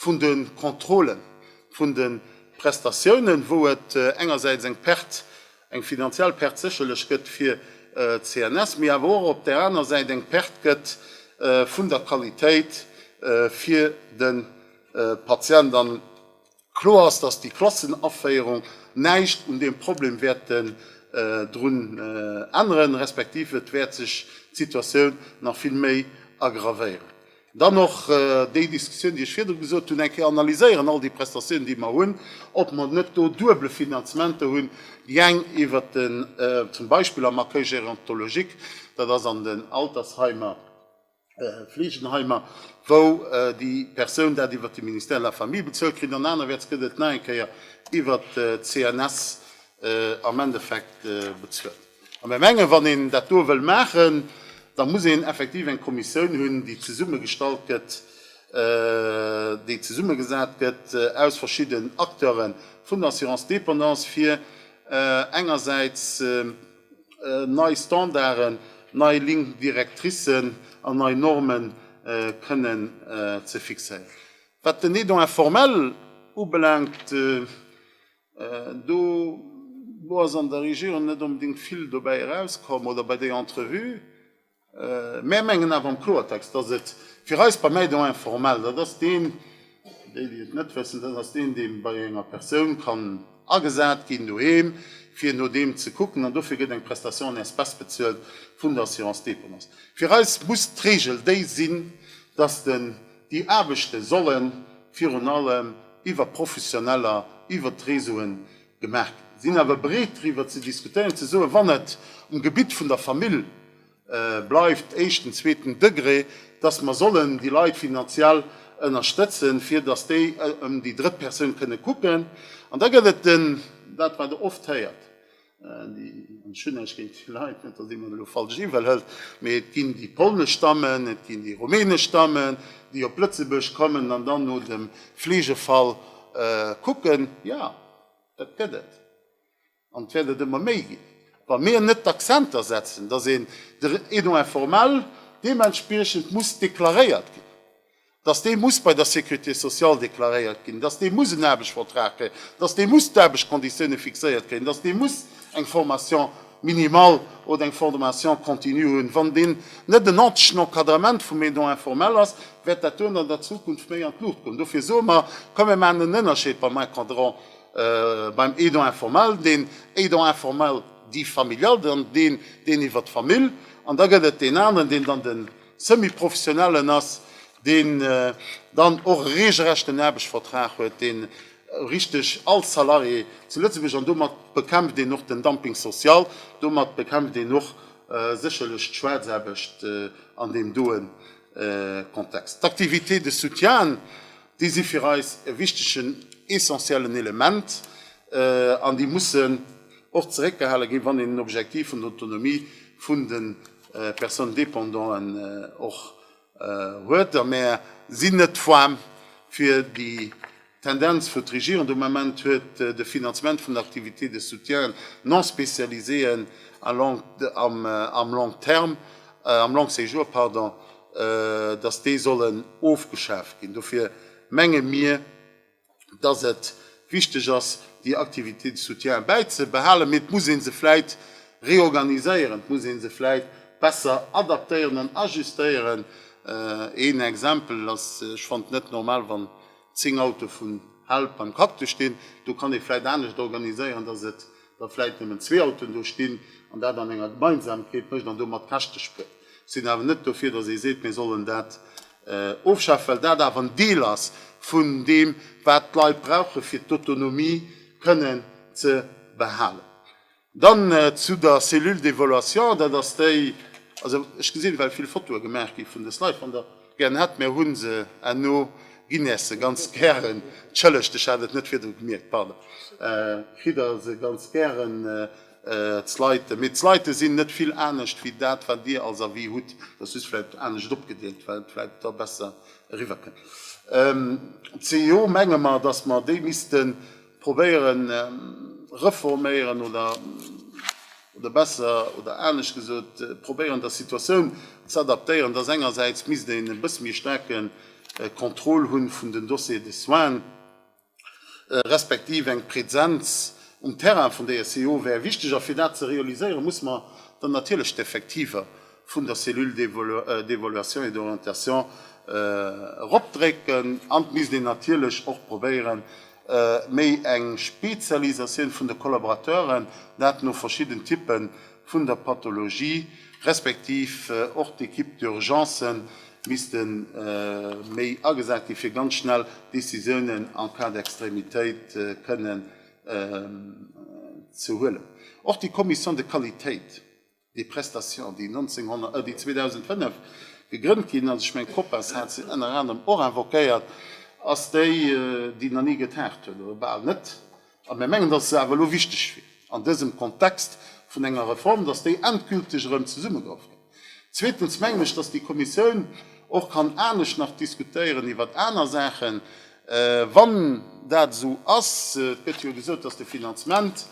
Speaker 1: vun de Contrôle vun de Prestatiounen, wou et engersäits eng Perte, eng finanziell Perte sécherlech gëtt fir d'CNS, mee awer och op där aner Säit eng Perte gëtt vun der Qualitéit fir de Patient. Kloer ass, dass déi Klassenaféierung näischt un deem Problem wäerten drun änneren, respektiv et wäert sech d'Situatioun nach vill méi aggravéieren. Dann och déi Diskussioun, déi ech virdru gesot hunn, eng Kéier analyséieren all déi Prestatiounen, déi mer hunn, ob mer net do duebele Finanzementer hunn, déi eng iwwert den, zum Beispill am Accueil gérontologique, dat ass an den Altersheimer, Fleegenheimer, wou déi Persoun dat iwwert de Ministère de la Famille bezuelt kritt an anerwäerts gëtt et nach eng Kéier iwwert d'CNS am Endeffekt bezuelt. A mir mengen, wann een dat do wëll maachen, da muss een effektiv eng Kommissioun hunn, déi zesummegestallt gëtt, déi zesummegesat gëtt aus verschidden Acteure vun der Assurance dépendance, fir engersäits, Nei Standarden, nei Lignes directrices an nei Norme kënnen ze fixéieren. Wat den Aidant informel ubelaangt, do ass an der Regierung net onbedéngt vill dobäi erauskomm oder bei der Entrevue. Mär mengen awer am Kloertext, dass et fir eis beim Aidant informel, dat ass deen, déi, déi et net wëssen, dat ass deen, dee bei enger Persoun kann agesat ginn doheem, fir no deem ze kucken, an dofir gëtt eng Prestation en espèces bezuelt vun der Assurance dépendance. Fir eis muss d'Regel déi sinn, dass déi Aarbechte solle virun allem iwwer Professioneller, iwwer d'Réseauen, Gemaach sinn, awer breet driwwer ze diskutéieren, ze soen, wann et um Gebitt vun der Famill bleift, éischten, zweeten Degré, dass mer sollen déi Leit finanziell ënnerstëtzen, fir dass déi ëm déi drëtt Persoun kënne kucken. An da gëtt et den, dat wat Der oft héiert, an ech hunn näischt géint déi Leit, net dass ee mer elo falsch iwwel hëlt, mee et ginn déi polnesch Stammen, et ginn déi rumänesch Stammen, déi op Lëtzebuerg kommen an dann no dem Fleegefall, Kucken, jo, dat gëtt et. An et wäert et ëmmer méi ginn, wa mir net d'Accenter setzen, datt een de Renom informel deementspriechend muss deklaréiert ginn, datt dee muss bei der Sécurité sociale deklaréiert ginn, datt dee muss en Aarbechtsvertrag kréien, datt dee muss d'Aarbechtskonditioune fixéiert kréien, datt dee muss eng Formation minimal oder eng Formation continue hunn. Wann deen net en ordentlechen Encadrement vum Aidant informel ass, wäert dat duerno an der Zukunft méi an d'Luucht goen. Dofir soe mer, komm mir maachen en Ënnerscheed beim Encadrant, beim Aidant informel, deen Aidant informel dit familial, dann deen, deen iwwert d'Famill, an da gëtt et deen aneren, deen dann de Semi-professionellen ass, deen dann och e reegelrechten Aarbechtsvertrag huet, dee richteg all Salarié zu Lëtzebuerg, an domat bekämpft een och den Dumping social, domat bekämpft een och sécherlech d'Schwaarzaarbecht an deem doe Kontext. D'Activités de soutien, déi si fir eis e wichtegen, essentiellen Element an déi mussen och zeréckgehale ginn, wann een den Objektiv vun der Autonomie vun de Personnes dépendanten och huet a mär sinn net d'Femme fir déi Tendenz wou d'Regierung de Moment huet, de Finanzement vun Activités de soutien non spécialisées am long terme, am long séjour, pardon, datt déi sollen ofgeschaaft ginn. Dofir menge mir, dass et wichteg ass, déi Activités de soutien bäizebehalen, mee et muss ee se vläit reorganiséieren, et muss ee se vläit besser adaptéieren an ajustéieren. Een Exempel ass, ech fannen et net normal, wann zéng Autoe vun Help beim Cactus stinn. Do kann ee vläit anescht organiséieren, dass et da vläit nëmmen zwee Autoen do stinn an dat an enger Gemeinsamkeet mécht an domat Käschte spuert. Ech sinn awer net dofir, dass ee seet, mir sollen dat Ofschaaft, well dat awer en Deel ass vun deem, wat d'Leit brauchen, fir d'Autonomie kënnen ze behalen. Dann zu der Cellule d'évaluation, dat ass déi, also ech gesinn, well vill Fotoe gemaach gi vun dës Leit, wann Der gären hätt, mir hu se herno, ginn Är se ganz gären, tschëllegt, ech hat et net virdru gemierkt, pardon, kritt Der se ganz gären. D'Sleiten, mee d'Sleiten sinn net vill anescht wéi dat wat dir als Avis hutt, dat ass just vläicht anescht opgedeelt, well et vläicht da besser eriwwer kënnt. D'CEO menge mer, datt mer déi misste probéieren reforméieren oder besser oder anescht gesot probéieren der Situatioun z'adaptéieren, datt engersäits misst een e bësse méi staarke Contrôle hu vun den Dossiers de soins, respektiv eng Presenz um Terrain vun der SEO wär wichteg, a fir dat ze realiséieren, musse mer dann natierlech d'Effektiver vun der Cellule d'évaluation et d'orientation eropdrécken an et misst een natierlech och probéieren, méi eng Spezialisatioun vun de Collaborateuren, dat no verschidden Typen vun der Pathologie, respektiv och d'Equipe d'urgencen misste méi agesat gi fir ganz schnell Décisiounen en cas d'extrémitéit kënnen ze huelen. Och déi Commission de qualitéit des prestations, déi 2005 gegrënnt ginn ass, ech mengen d'Copas hat se ënner anerem och invoquéiert, ass déi, déi nach ni getagt huet, oder bal net, A mir mengen, dass se awer elo wichteg wier an dësem Kontext vun enger Reform, dass déi endgülteg erëm zesummegehoff gëtt. Zweetens mengen ech, dass déi Kommissioun och kann anescht nach diskutéieren iwwert aner Saachen, wann dat esou ass. Et gëtt jo gesot, dass de Finanzement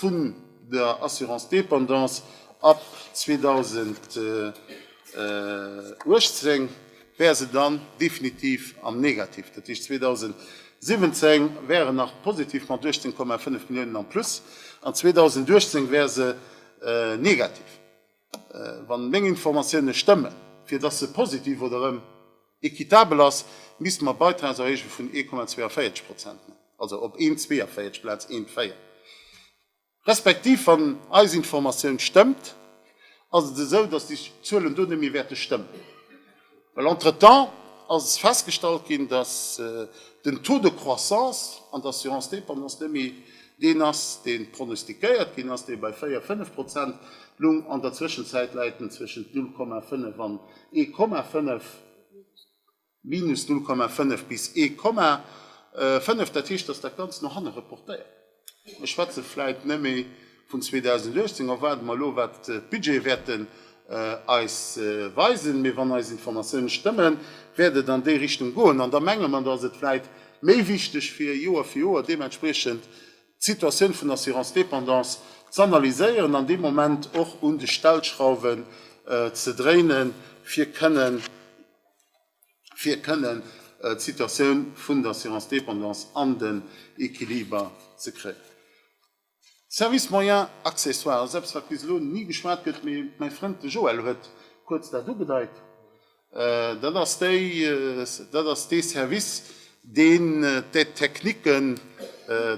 Speaker 1: vun der Assurance dépendance ab 2018, wär se dann definitiv am Negativ. Dat heescht, 2017 wär en nach positiv mat 18,5 Milliounen am Plus an 2018 wär se negativ, wann meng Informatiounen stëmmen. Fir dass se positiv oder erëm équitabel ass, misste mer Beitragserhéijunge vun 1,42 Prozent maachen, also op een 42 Plaz een Véier. Respektiv, wann eis Informatioun stëmmt, ass et esou, dass déi Zuelen do net méi wäerte stëmmen, well entretemps ass festgestallt ginn, dass den Taux de croissance an d'Assurance dépendance net méi deen ass, dee pronostiquéiert ginn ass, dee bei véier, fënnef Prozent lung. An der Zwëschenzäit läit en zwëschent null Komma fënnef an ee Komma fënnef. Minus 0,5 bis ee Komma 5, dat heescht, datt dat Ganzt no hanne reportéiert gëtt. Mir schwätze vläit nëmme vun 2018 a waarde mer elo, wat d'Budgete wäerten eis weisen. Mee wann eis Informatiounen stëmmen, wäert et an déi Richtung goen. An da menge mer, datt et vläit méi wichteg wier, Joer fir Joer deementspriechend d'Situatioun vun der Assurance dépendance z'analyséieren an dee Moment och un de Stellschrauwen ze dréinen, fir kënnen, fir kënnen d'Situatioun vun der Assurance dépendance an den Equiliber ze kréien. Service moyen accessoire ass eppes, wat bis elo ni geschwat gëtt, mee mäi Frënd de Joël huet kuerz dat ugedeit. Dat ass déi, dat ass dee Service, deen d'Aide technique,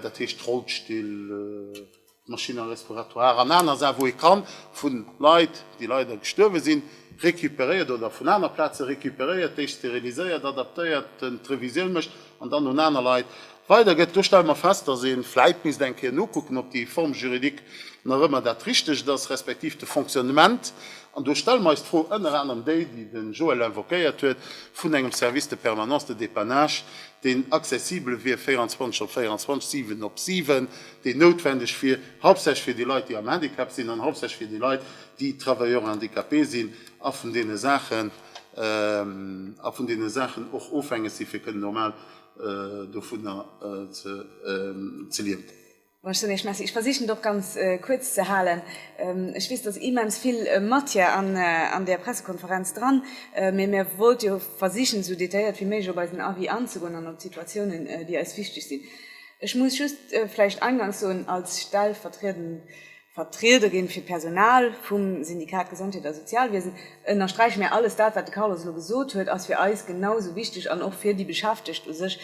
Speaker 1: dat heescht Rollstill, Machines respiratoires an aner Saache wou ee kann vu Leit, déi leider gestuerwe sinn, recuperéiert oder vun aner Plaze recuperéiert, déi steriliséiert, adaptéiert, d'Revisioun mécht an dann un aner Leit weidergëtt. Do stelle mer fest, dass ee vläit misst eng Kéier nokucken, ob déi Forme juridique nach ëmmer dat Richtegt ass, respektiv de Fonctionnement. An do stelle mer eis d'Fro, ënner anerem déi, déi de Joël invoquéiert huet, vun engem Service de permanence de dépannage, deen accessibel wier 24 op 24, 7 op 7, déi noutwendeg wier, hauptsächlech fir déi Leit, déi am Handicap sinn, an hauptsächlech fir déi Leit, déi Travailleurs handicapés sinn a vun deene Saachen, a vun deene Saachen och ofhängeg sinn, fir kënnen normal dovunner ze liewen. Ech soen Iech Merci. Ech
Speaker 3: versichen et och ganz kuerz ze halen. Ech weess, et ass immens vill Matière an där Pressekonferenz dran, mee mir wollt jo versichen, esou detailléiert wéi méiglech op eisen Avis anzegoen an op d'Situatiounen, déi eis wichteg sinn. Ech muss just vläicht eingangs soen, als stellvertriedend Vertriederin fir d'Personal vum Syndikat Gesondheet a Sozialwiesen ënnersträiche mir, Alles dat, wat de Carlos elo gesot huet, ass fir eis genau sou wichteg an och fir déi Beschäftegt u sech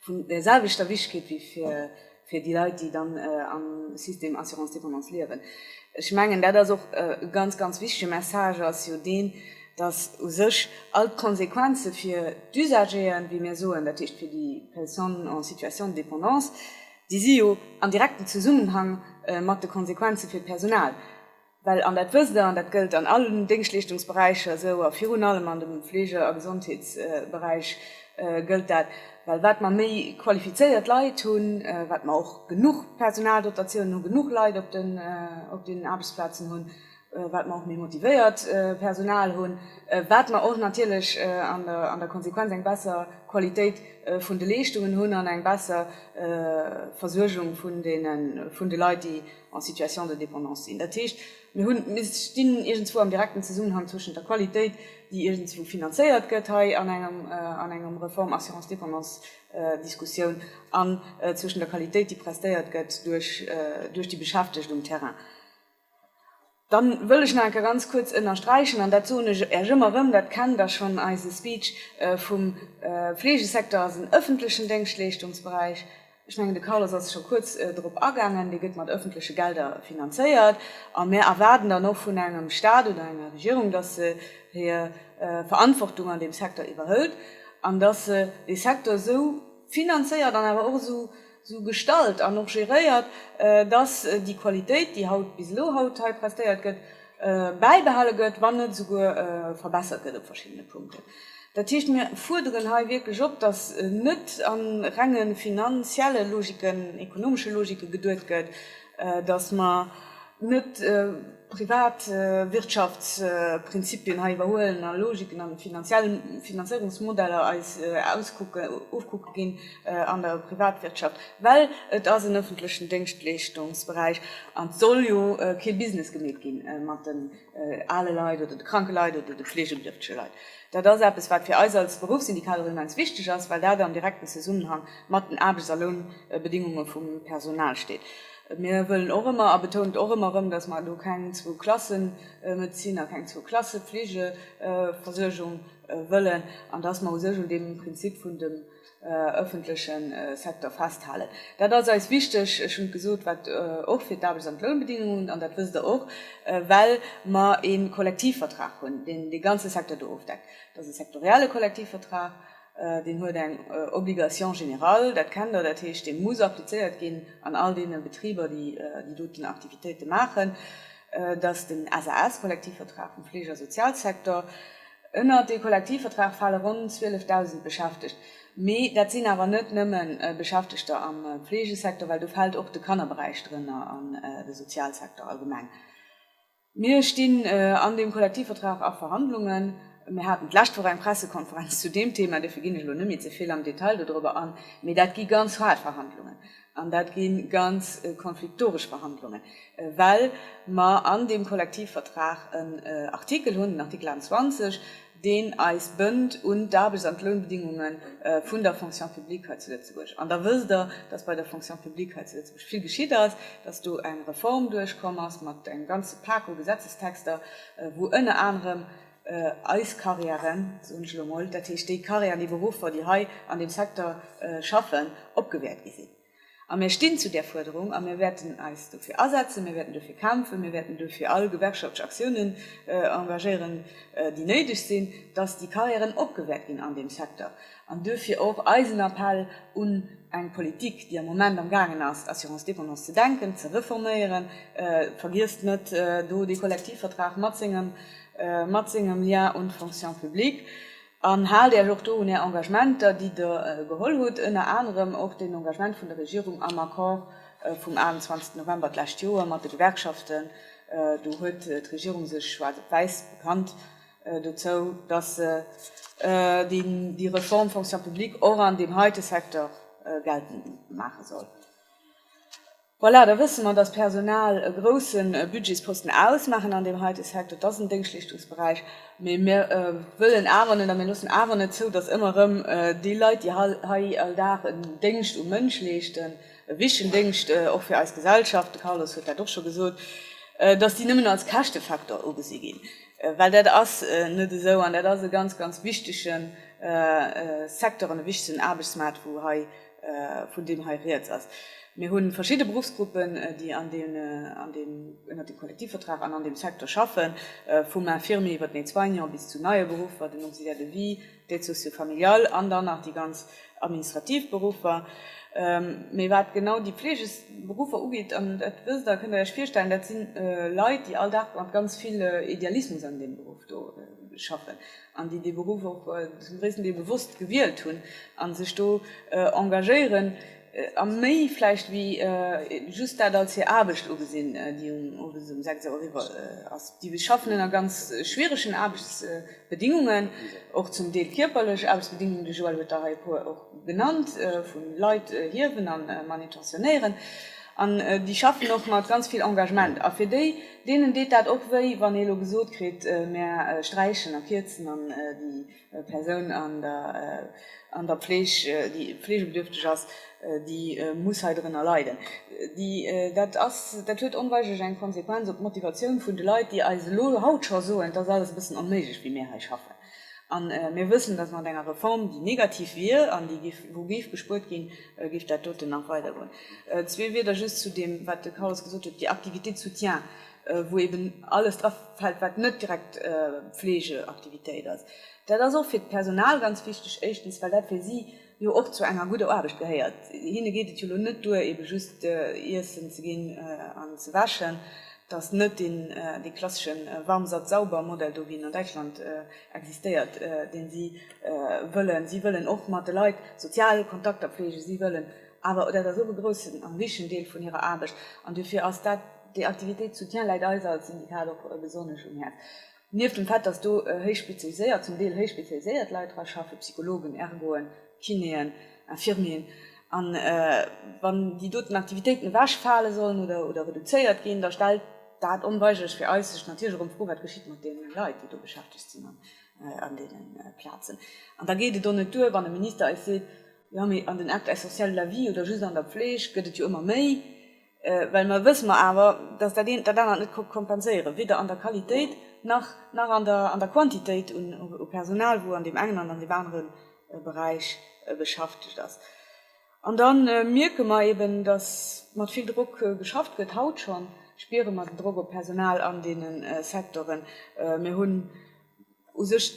Speaker 3: vun därselwechter Wichtigkeet wéi fir déi Leit, déi dann am System Assurance Dépendance liewen. Ech mengen, dat ass och e ganz, ganz wichtige Message ass jo deen, dass u sech all d'Konsequenze fir d'Usageren, wéi mir soen, dat heescht fir déi Personnes en situation de dépendance, déi si jo am direkten Zesummenhang mat de Konsequenze fir d'Personal, well, an dat wësst Der, an dat gëllt an allen Déngschtleeschtungsberäicher esou a virun allem an dem Fleege a Gesondheetsberäich gëllt dat, well wat mer méi qualifizéiert Leit hunn, wat mer och genuch Personaldotatioun hunn, genuch Leit op den Aarbechtsplazen hunn, wat mer och méi motivéiert Personal hunn, wat mer och natierlech an der Konsequenz eng besser Qualitéit vun de Leeschtungen hunn an eng besser Versuergung vun de Leit, déi en Situation de dépendance sinn. Dat heescht, mir hunn, mir stinn iergendswou am direkten Zesummenhang zwëschent der Qualitéit, déi iergendswou finanzéiert gëtt hei an engem Reform assurance dépendance Diskussioun, an zwëschent der Qualitéit, déi prestéiert gëtt duerch déi Beschäftegt um Terrain. Dann wëll ech nach ganz kuerz ënnersträichen, an dat soen ech Äech ëmmer erëm, dat kennt Der schonn, eise Speech vum Fleegesecteur ass en ëffentlechen Déngschtleeschtungsberäich. Ech mengen, de Carlos ass scho kuerz drop agaangen, dee gëtt mat ëffentleche Gelder finanzéiert. A mir erwaarden dann och vun engem Stat oder enger Regierung, dass se hir Verantwortung an deem Secteur iwwerhëlt an dass se dee Secteur esou finanzéiert an awer och esou sou gestalt an och geréiert, dass déi Qualitéit, déi haut bis elo haut hei prestéiert gëtt, bäibehale gëtt, wann net esouguer verbessert gëtt op verschiddene Punkten. Dat heescht, mir fuerderen hei wierklech op, dass net a renge finanzielle Logiken, ekonomesche Logike geduet gëtt, datt mer net privat Wirtschaftsprinzipien hei iwwerhuelen a Logiken a finanziell Finanzéierungsmodeller eis auskucken, ofkucke ginn an der Privatwirtschaft, well et ass en öffentlechen Déngschtleeschtungsberäich an et soll jo kee Business gemeet gi mat den ale Leit oder de kranke Leit oder de fleegebedierftege Leit. Dat ass eppes, wat fir eis als Beruffssyndikaler immens wichteg ass, well dat am direkten Zesummenhang mat den Aarbechts a Lounbedingunge vum Personal steet. Mir wëllen och ëmmer a betount och ëmmer erëm, datt mer do keng zwou Klassemedezin a keng zwou Klassefleegeversuergung wëllen an datt mer u sech un deem Prinzip vun dem ëffentleche Secteur festhalen. Dat ass eis wichteg, ech hunn et gesot, wat och fir d'Aarbechts an d'Lounbedingungen, an dat wësst Der och, well mer ee Kollektivvertrag hunn, deen dee ganze Secteur do ofdeckt. Dat ass e sektorielle Kollektivvertrag. Deen huet eng Obligation générale, dat kennt Der, dat heescht, dee muss applizéiert ginn an all deene Betriber, déi déi doten Aktivitéite maachen, dass den SAS, Kollektivvertrag vum Fleege a Sozialsektor, ënnert dee Kollektivvertrag fale ronn 12.000 Beschäftegt, mee dat sinn awer net nëmme Beschäftegter am Fleegesektor, well do fält och de Kannerberäich drënner an de Sozialsektor allgemeng. Mir stinn an deem Kollektivvertrag a Verhandlungen. Mir haten d'lescht Woch eng Pressekonferenz zu deem Thema, dofir ginn ech elo net méi ze vill am Detail dodrëwwer an. Mee dat gi ganz haart Verhandlungen an dat gi ganz konfliktoresch Verhandlungen, well mer an deem Kollektivvertrag en Artikel hunn, den Artikel 21, deen eis bënnt un d'Aarbechts an d'Lounbedingunge vun der Fonction publique hei zu Lëtzebuerg. An da wësst Der, dass bei der Fonction publique hei zu Lëtzebuerg vill geschitt ass, dass do eng Reform duerchkomm ass mat engem ganze Pak u Gesetzestexter, wou ënner anerem eis Carrièren, soen ech elo emol, dat heescht déi Carrièren, déi Beruffer, déi hei an deem Secteur schaffen, opgewäert gi sinn. A mir stinn zu där Fuerderung a mir wäerten eis dofir asetzen, mir wäerten dofir kämpfen, mir wäerten dofir all gewerkschaftlech Aktiounen engagéieren, déi néideg sinn, dass déi Carrièren opgewäert ginn an deem Secteur. An duerfir och eisen Appell un eng Politik, déi am Moment am gaangen ass, d'Assurance dépendance ze denken, ze reforméieren, vergiesst net do dee Kollektivvertrag mat sengem Lien un d'Fonction publique, An haalt Iech och do un Är Engagementer, déi Der geholl hutt, ënner anerem och den Engagement vun der Regierung am Accord vum 28 November d'lescht Joer mat de Gewerkschaften. Do huet d'Regierung sech schwaarz op wäiss bekannt dozou, dass se déi Reform Fonction publique och an deem heite Secteur geltend maache soll. Voilà, da wësse mer, dass d'Personal e grouse Budgetsposten ausmaachen an deem heite Secteur. Et ass en Déngschtleeschtungsberäich, mee mir wëllen awer net a mir loossen awer net zou, dass ëmmer erëm déi Leit, déi hei all Dag en Déngscht um Mënsch leeschten, e wichtegen Déngscht och fir eis Gesellschaft, de Carlos huet dat och scho gesot, dass déi nëmmen als Käschtefaktor ugesi ginn, well dat ass net esou an dat ass e ganz, ganz wichtege Secteur an e wichtegen Aarbechtsmaart, wou hei, vun deem hei riets ass. Mir hu verschidde Beruffsgruppen, déi ënnert deem Kollektivvertrag an an deem Secteur schaffen, vum Infirmier iwwert den Aide-soignant bis zu neie Beruffer, den Auxiliaire de vie, d'Aide socio-familiale an dann nach déi ganz administrativ Beruffer. Mee wat genau déi Fleegeberuffer ugeet, an dat wësst Der, kënnt Der Iech virstellen, dat si Leit, déi all Dag mat ganz vill Idealismus an deem Beruff do schaffen. an déi dee Beruff och zum gréissten Deel bewosst gewielt hunn a sech do engagéieren a méi vläicht wéi just dat als hir Aarbecht ugesinn, déi owes um sechs Auer eriwwer ass. Déi schaffen ënner ganz schwieregen Aarbechtsbedingungen, och zum Deel kierperlech Aarbechtsbedingungen, de Joël huet der hei e puer och genannt, vu Leit hiewen a manutentionéieren, an déi schaffen och mat ganz vill Engagement a fir déi, Deenen deet dat och wéi, wann ee lo gesot kritt, mär sträichen a kierzen an déi Persoun an der Fleeg, déi fleegebedürfteg ass, déi muss hei drënner leiden. Dat ass, dat huet onweigerlech eng Konsequenz op d'Motivatioun vun de Leit, déi eis elo haut scho soen, et ass alles e bëssen onméiglech, wéi mir hei schaffen. A mir wëssen, dass mat enger Reform, déi negativ wier an wou géif gespuert ginn, géif dat doten nach weider goen. Zwee Wieder just zu deem, wat de Carlos gesot huet, déi Activités de soutien, wou eeben alles drafält, wat net direkt Pflegeaktivitéit ass. Dat ass och fir d'Personal ganz wichteg, éischtens, well dat fir si jo och zu enger gudder Aarbecht gehéiert. Hinne geet et jo elo net duer ebe just Iessen ze ginn an ze wäschen, et ass net deen dee klassesche Warm Satt Sauber Modell do wéi en an Däitschland existéiert, dee si wëllen. Si wëllen och mat de Leit sozial Kontakter pflegen, si wëllen awer, dat ass och e groussen a wichtegen Deel vun hirer Aarbecht, an dofir ass dat déi Activités de soutien läit eis als Syndikat och besonnesch um Häerz, Nieft dem Fait, dass do héich spezialiséiert, zum Deel héich spezialiséiert Leit dra schaffen, Psychologen, Ergoen, Kinéen, Infirmieren, a wann déi doten Aktivitéiten ewech fale sollen oder reduzéiert ginn, da stellt dat onweigléch fir eis sech natierléch erëm d'Fro, Wat geschitt mat deene Leit, déi do beschäftegt sinn an deene Plazen? An da geet et och net duer, wann e Minister eis seet, Jo, mee an den Actes essentiels de la vie oder just an der Pfleg gëtt et jo ëmmer méi. well mer wësse mer awer, dass dat eent dat anert net ka kompenséieren, weder an der Qualitéit nach nach an der an der Quantitéit un u Personal, wou an deem engen an an deem anere Beräich beschäftegt ass. An da mierke mer eeben, dass mat vill Drock geschafft gëtt. Haut scho spiere mer den Drock op d'Personal an deenen Sektoren. Mir hunn. U sech,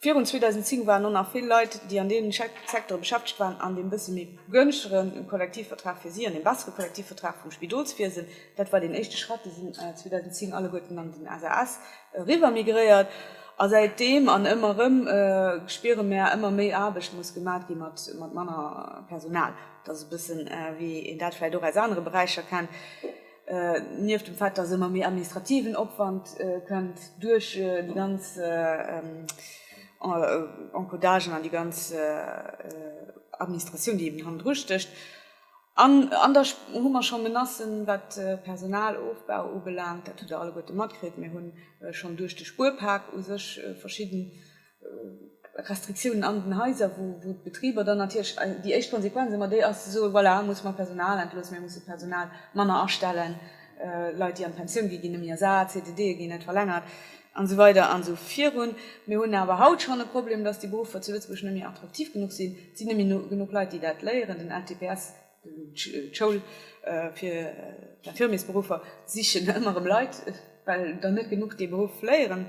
Speaker 3: virun 2010 waren och nach vill Leit, déi an deenen Secteure beschäftegt waren, an deem bësse méi begënschtege Kollektivvertrag fir si, an deem bessere Kollektivvertrag vum Spidolswiesen, dat war deen éischte Schrëtt, déi sinn 2010 alleguerten an den SAS eriwwer migréiert. A säitdeem an ëmmer erëm spiere mär, ëmmer méi Aarbecht muss gemaach gi mat manner Personal. Dat ass e bëssen, wéi een dat vläicht och aus anere Beräicher kennt. Nieft dem Fait, dass ëmmer méi administrativen Opwand kënnt duerch déi ganz Encodagen an déi ganz Administratioun, déi eben hannendru stécht, an da hu mer scho Menacen, wat de Personalofbau ubelaangt, dat hutt Der alleguerte matkritt, mir hu schonn duerch de Spuerpak u sech verschidden, Restriktiounen an den Haiser, wou d'Betriber dann natierlech déi éischt Konsequenz ëmmer déi ass, ze soen, voilà, elo musse mer Personal entloossen, mir musse Personal manner astellen, Leit, déi an d'Pensioun ginn, ginn net méi ersat, CDDe ginn net verlängert an esou weider an esou virun. Mir hunn awer haut schonn e Problem, dass déi Beruffer zu Lëtzebuerg net méi attraktiv genuch sinn. Et sinn net méi genuch Leit, déi dat léieren. Den LTPS, d'Schoul fir d'Infirmiersberuffer, sichen ëmmer erëm Leit, well der net genuch dee Beruff léieren.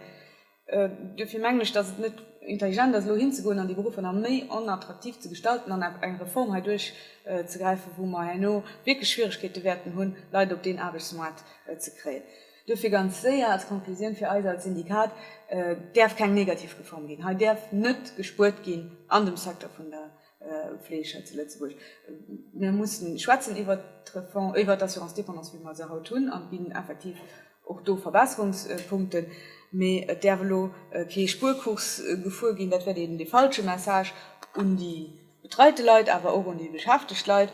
Speaker 3: Duerfir mengen ech, dass et net intelligent ass, elo hinzegoen an déi Beruffer nach méi onattraktiv ze gestalten an eng Reform hei duerchzegräifen, wou mer herno wierklech Schwierigkeete wäerten hunn, Leit op deen Aarbechtsmaart ze kréien. Duerfir ganz séier als Konklusioun fir eis als Syndikat, Et däerf keng negativ Reform ginn. Hei däerf net gespuert ginn an dem Secteur vun der. Fleeg hei zu Lëtzebuerg. Mir mussen schwätzen iwwert d'Reform, iwwert d'Assurance dépendance, wéi mer se haut hunn, an et ginn effektiv och do Verbesserungspunkten, mee et däerf elo kee Spuerkurs gefuer ginn. Dat wäert een dee falsche Message un déi betreite Leit, awer och un déi beschäftegt Leit.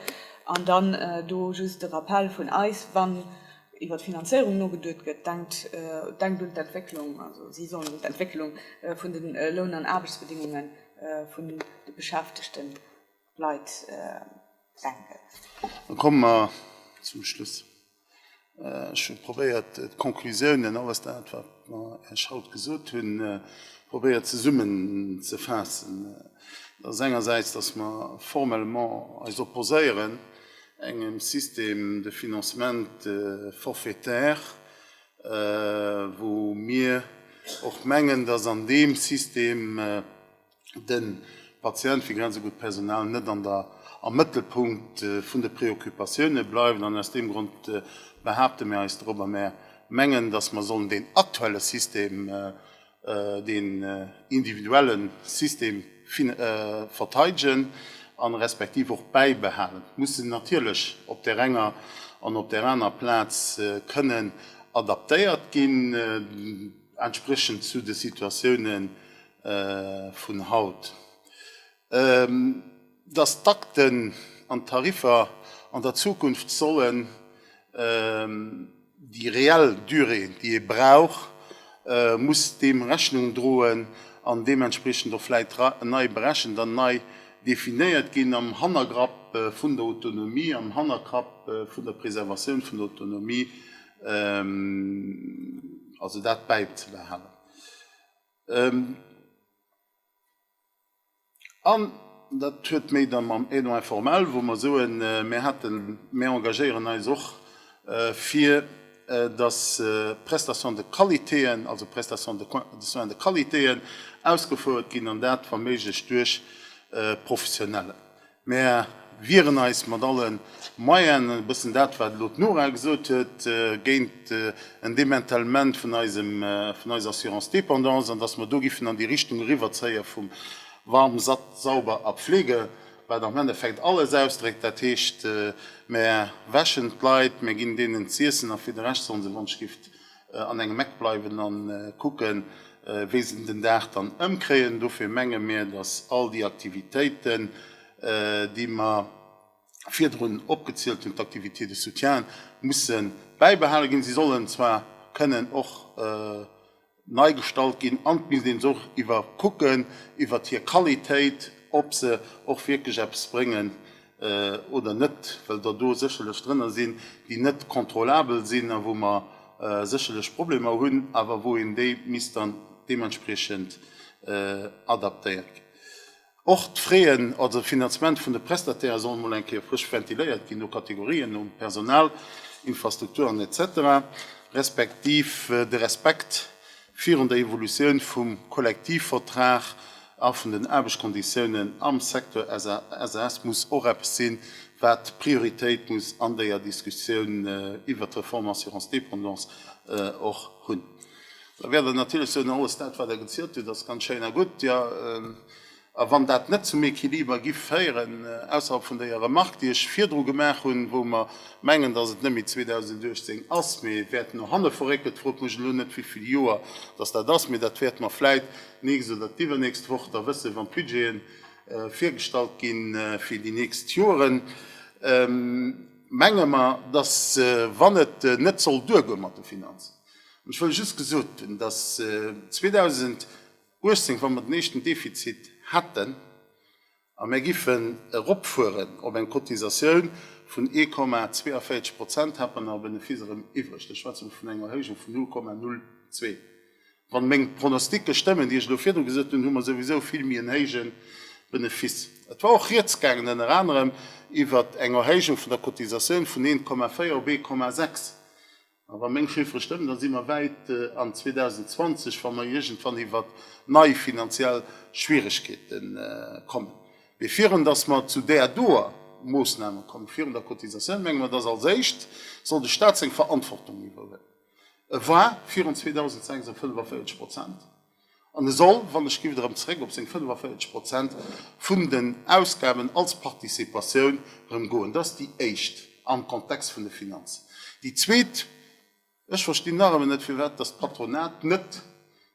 Speaker 3: An dann do just de Rappell vun eis, Wann iwwert d'Finanzéierung nogeduet gëtt, denkt, denkt un d'Entwécklung, also si sollen un d'Entwécklung vun de Loun an Aarbechtsbedingungen, vun de beschäftegten Leit senken. Dann
Speaker 1: komme mer zum Schluss. Ech hu probéiert d'Conclusiounen, alles dat wat mer Iech haut gesot hunn, probéiert zesummen ze faassen. Dat ass engersäits, datt mer formellement eis opposéieren engem Système de financement forfaitaire, wou mir och mengen, dass an deem System de Patient, wéi genannt esou gutt, d'Personal net an der, am Mëttelpunkt vun de Preoccupatioune bleift. An aus deem Grond behaapte mir eis drop a mir mengen, dass mer sollen deen aktuelle System deen individuelle System verteidegen a respektiv och bäibehalen, muss en natierlech op där enger an op där aner Plaz kënnen adaptéiert ginn, entspriechend zu de Situatiounen vun haut. dass d'Takten an d'Tariffer an der Zukunft sollen déi reell Durée, déi ee brauch, muss deem Rechnung droen an deementspriechend och vläicht nei berechent an nei definéiert ginn, am Hannergrapp vun der Autonomie, am Hannergrapp vun der Preservatioun vun der Autonomie, also dat bäizebehalen. An dat huet méi da mam Aidant informel, wou mer soen, mir haten, mir engagéieren eis och fir, dass Prestations de qualitéen, also Prestations de soins de qualitéen ausgefouert ginn, an dat wa méiglech duerch Professionellen. Mär wieren eis mat alle Moyenen, e bëssen dat, wat elo d'Nora gesot huet, géint en Démantèlement vun eisem, vun eiser Assurance dépendance an dass mer do giffen an déi Richtung eriwwerzéie vum Warm, Satt, Sauber a Pflege, wat am Endeffekt alles ausdréckt. Dat heescht, mär wäschen d'Leit, mär ginn deenen z'iessen a fir de Rescht sollen se, wann ech giff an engem Eck bleiwen an kucken wéi se den Dag dann ëmkréien. Dofir menge mir, dass all déi Aktivitéiten déi mer virdrun opgezielt hunn, d'Activités de soutien, musse bäibehale ginn. Se sollen zwar kënnen och nei gestalt ginn an et misst een se och iwwerkucken iwwert hir Qualitéit, ob se och wierklech eppes bréngen. oder net, well der do sécherlech drënner sinn, déi net kontrollabel sinn a wou mer sécherlech Problemer hunn, awer wou een déi misst dann deementspriechend adaptéieren. Och d'Fraien, also d'Finanzement vun de Prestataire soll emol eng Kéier frësch ventiléiert ginn, no Kategorien, nom Personal, Infrastrukturen, etc. Respektiv de Respekt virun der Evolutioun vum Kollektivvertrag a vun den Aarbechtskonditiounen am Secteur SAS muss och eppes sinn, wat Prioritéit muss an der Diskussioun iwwert d'Reform Assurance dépendance och hunn. Da wäert Der natierlech soen, Oh, alles dat, wat Der gezielt hutt, ass ganz schéin a gutt. A wann dat net zum Equiliber gi féieren, ausserhalb vun déier Remark, déi ech virdru gemaach hunn, wou mer mengen, datt et net méi 2018 ass, mee et wäert no hanne verréckelt, frot mech elo net wéivill Joer datt dat ass, mee dat wäert mer vläit d'nächst oder d'iwwernächst Woch da wëssen, wann d'Budgete virgestallt gi fir déi nächst Joeren, menge mer, datt wann et net soll duergoe mat de Finanzen, an ech wëll just gesot hunn, datt 2000, 18, wa mer den éischten Defizit hätten a mär giffen eropfueren op eng Cotisatioun vun 1,42 Prozent, hätt mer nach e Benefice erëm iwwreg. Da schwätze mer vun enger Erhéijung vun 0,02. Wann meng Pronostiquen stëmmen, déi ech elo virdru gesot hunn, hu mer souwisou vill méi en héijen Benefice. Et war och Rieds gaangen ënner anerem iwwert eng Erhéijung vun der Cotisatioun vun 1,4 op 1,6. A wa meng Chiffere stëmmen, da si mer wäit an 2020, wa mer iergendwann iwwert nei finanziell Schwieregkeete kommen. Mee virun datt mer zu där doer Moossname kommen, virun der Cotisatioun, menge mer, datt als éischt soll de Stat seng Verantwortung iwwerhuelen. E war virun 2006 op 45 Prozent. An e soll, wann ech giff erëm zeréck op seng 45 Prozent vun den Ausgaben als Participatioun erëm goen. Dat ass déi éischt am Kontext vun de Finanzen. Déi zweet, ech verstinn nach ëmmer net, firwat dass d'Patronat net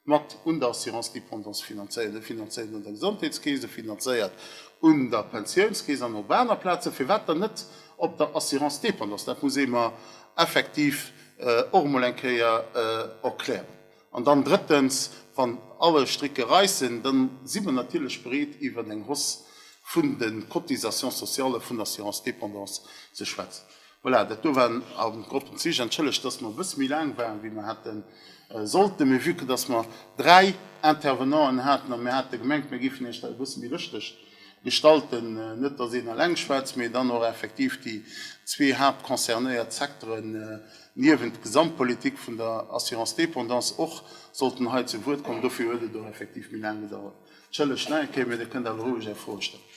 Speaker 1: mat un der Assurance dépendance finanzéiert. E finanzéiert un der Gesondheetskeess, e finanzéiert un der Pensiounskeess an op aner Plazen. Firwat dann net op der Assurance dépendance? Dat muss ee mer effektiv och emol eng Kéier erklären. An dann drëttens, wann alle Stricke reissen, dann si mer natierlech bereet iwwert eng Hausse vun de Cotisations sociales vun der Assurance dépendance ze schwätzen. Voilà, dat do waren am Gros d'Zich. Entschëllegt, dass mer e bësse méi laang waren, wéi mer hate sollten, mee vue que dass mer dräi Intervenanten haten a mir hate gemengt, mir géifen Iech dat e bësse méi lëschteg. Gestallten, net datt een eleng schwätzt, mee dann och effektiv déi zwee haaptconcernéiert Secteren niewent d'Gesamtpolitik vun der Assurance dépendance och sollten hei zu Wuert kommen. Dofir huet et och effektiv méi laang gedauert. Entschëllegt nach eng Kéier, mee Dir kënnt awer roueg Är Froe stellen.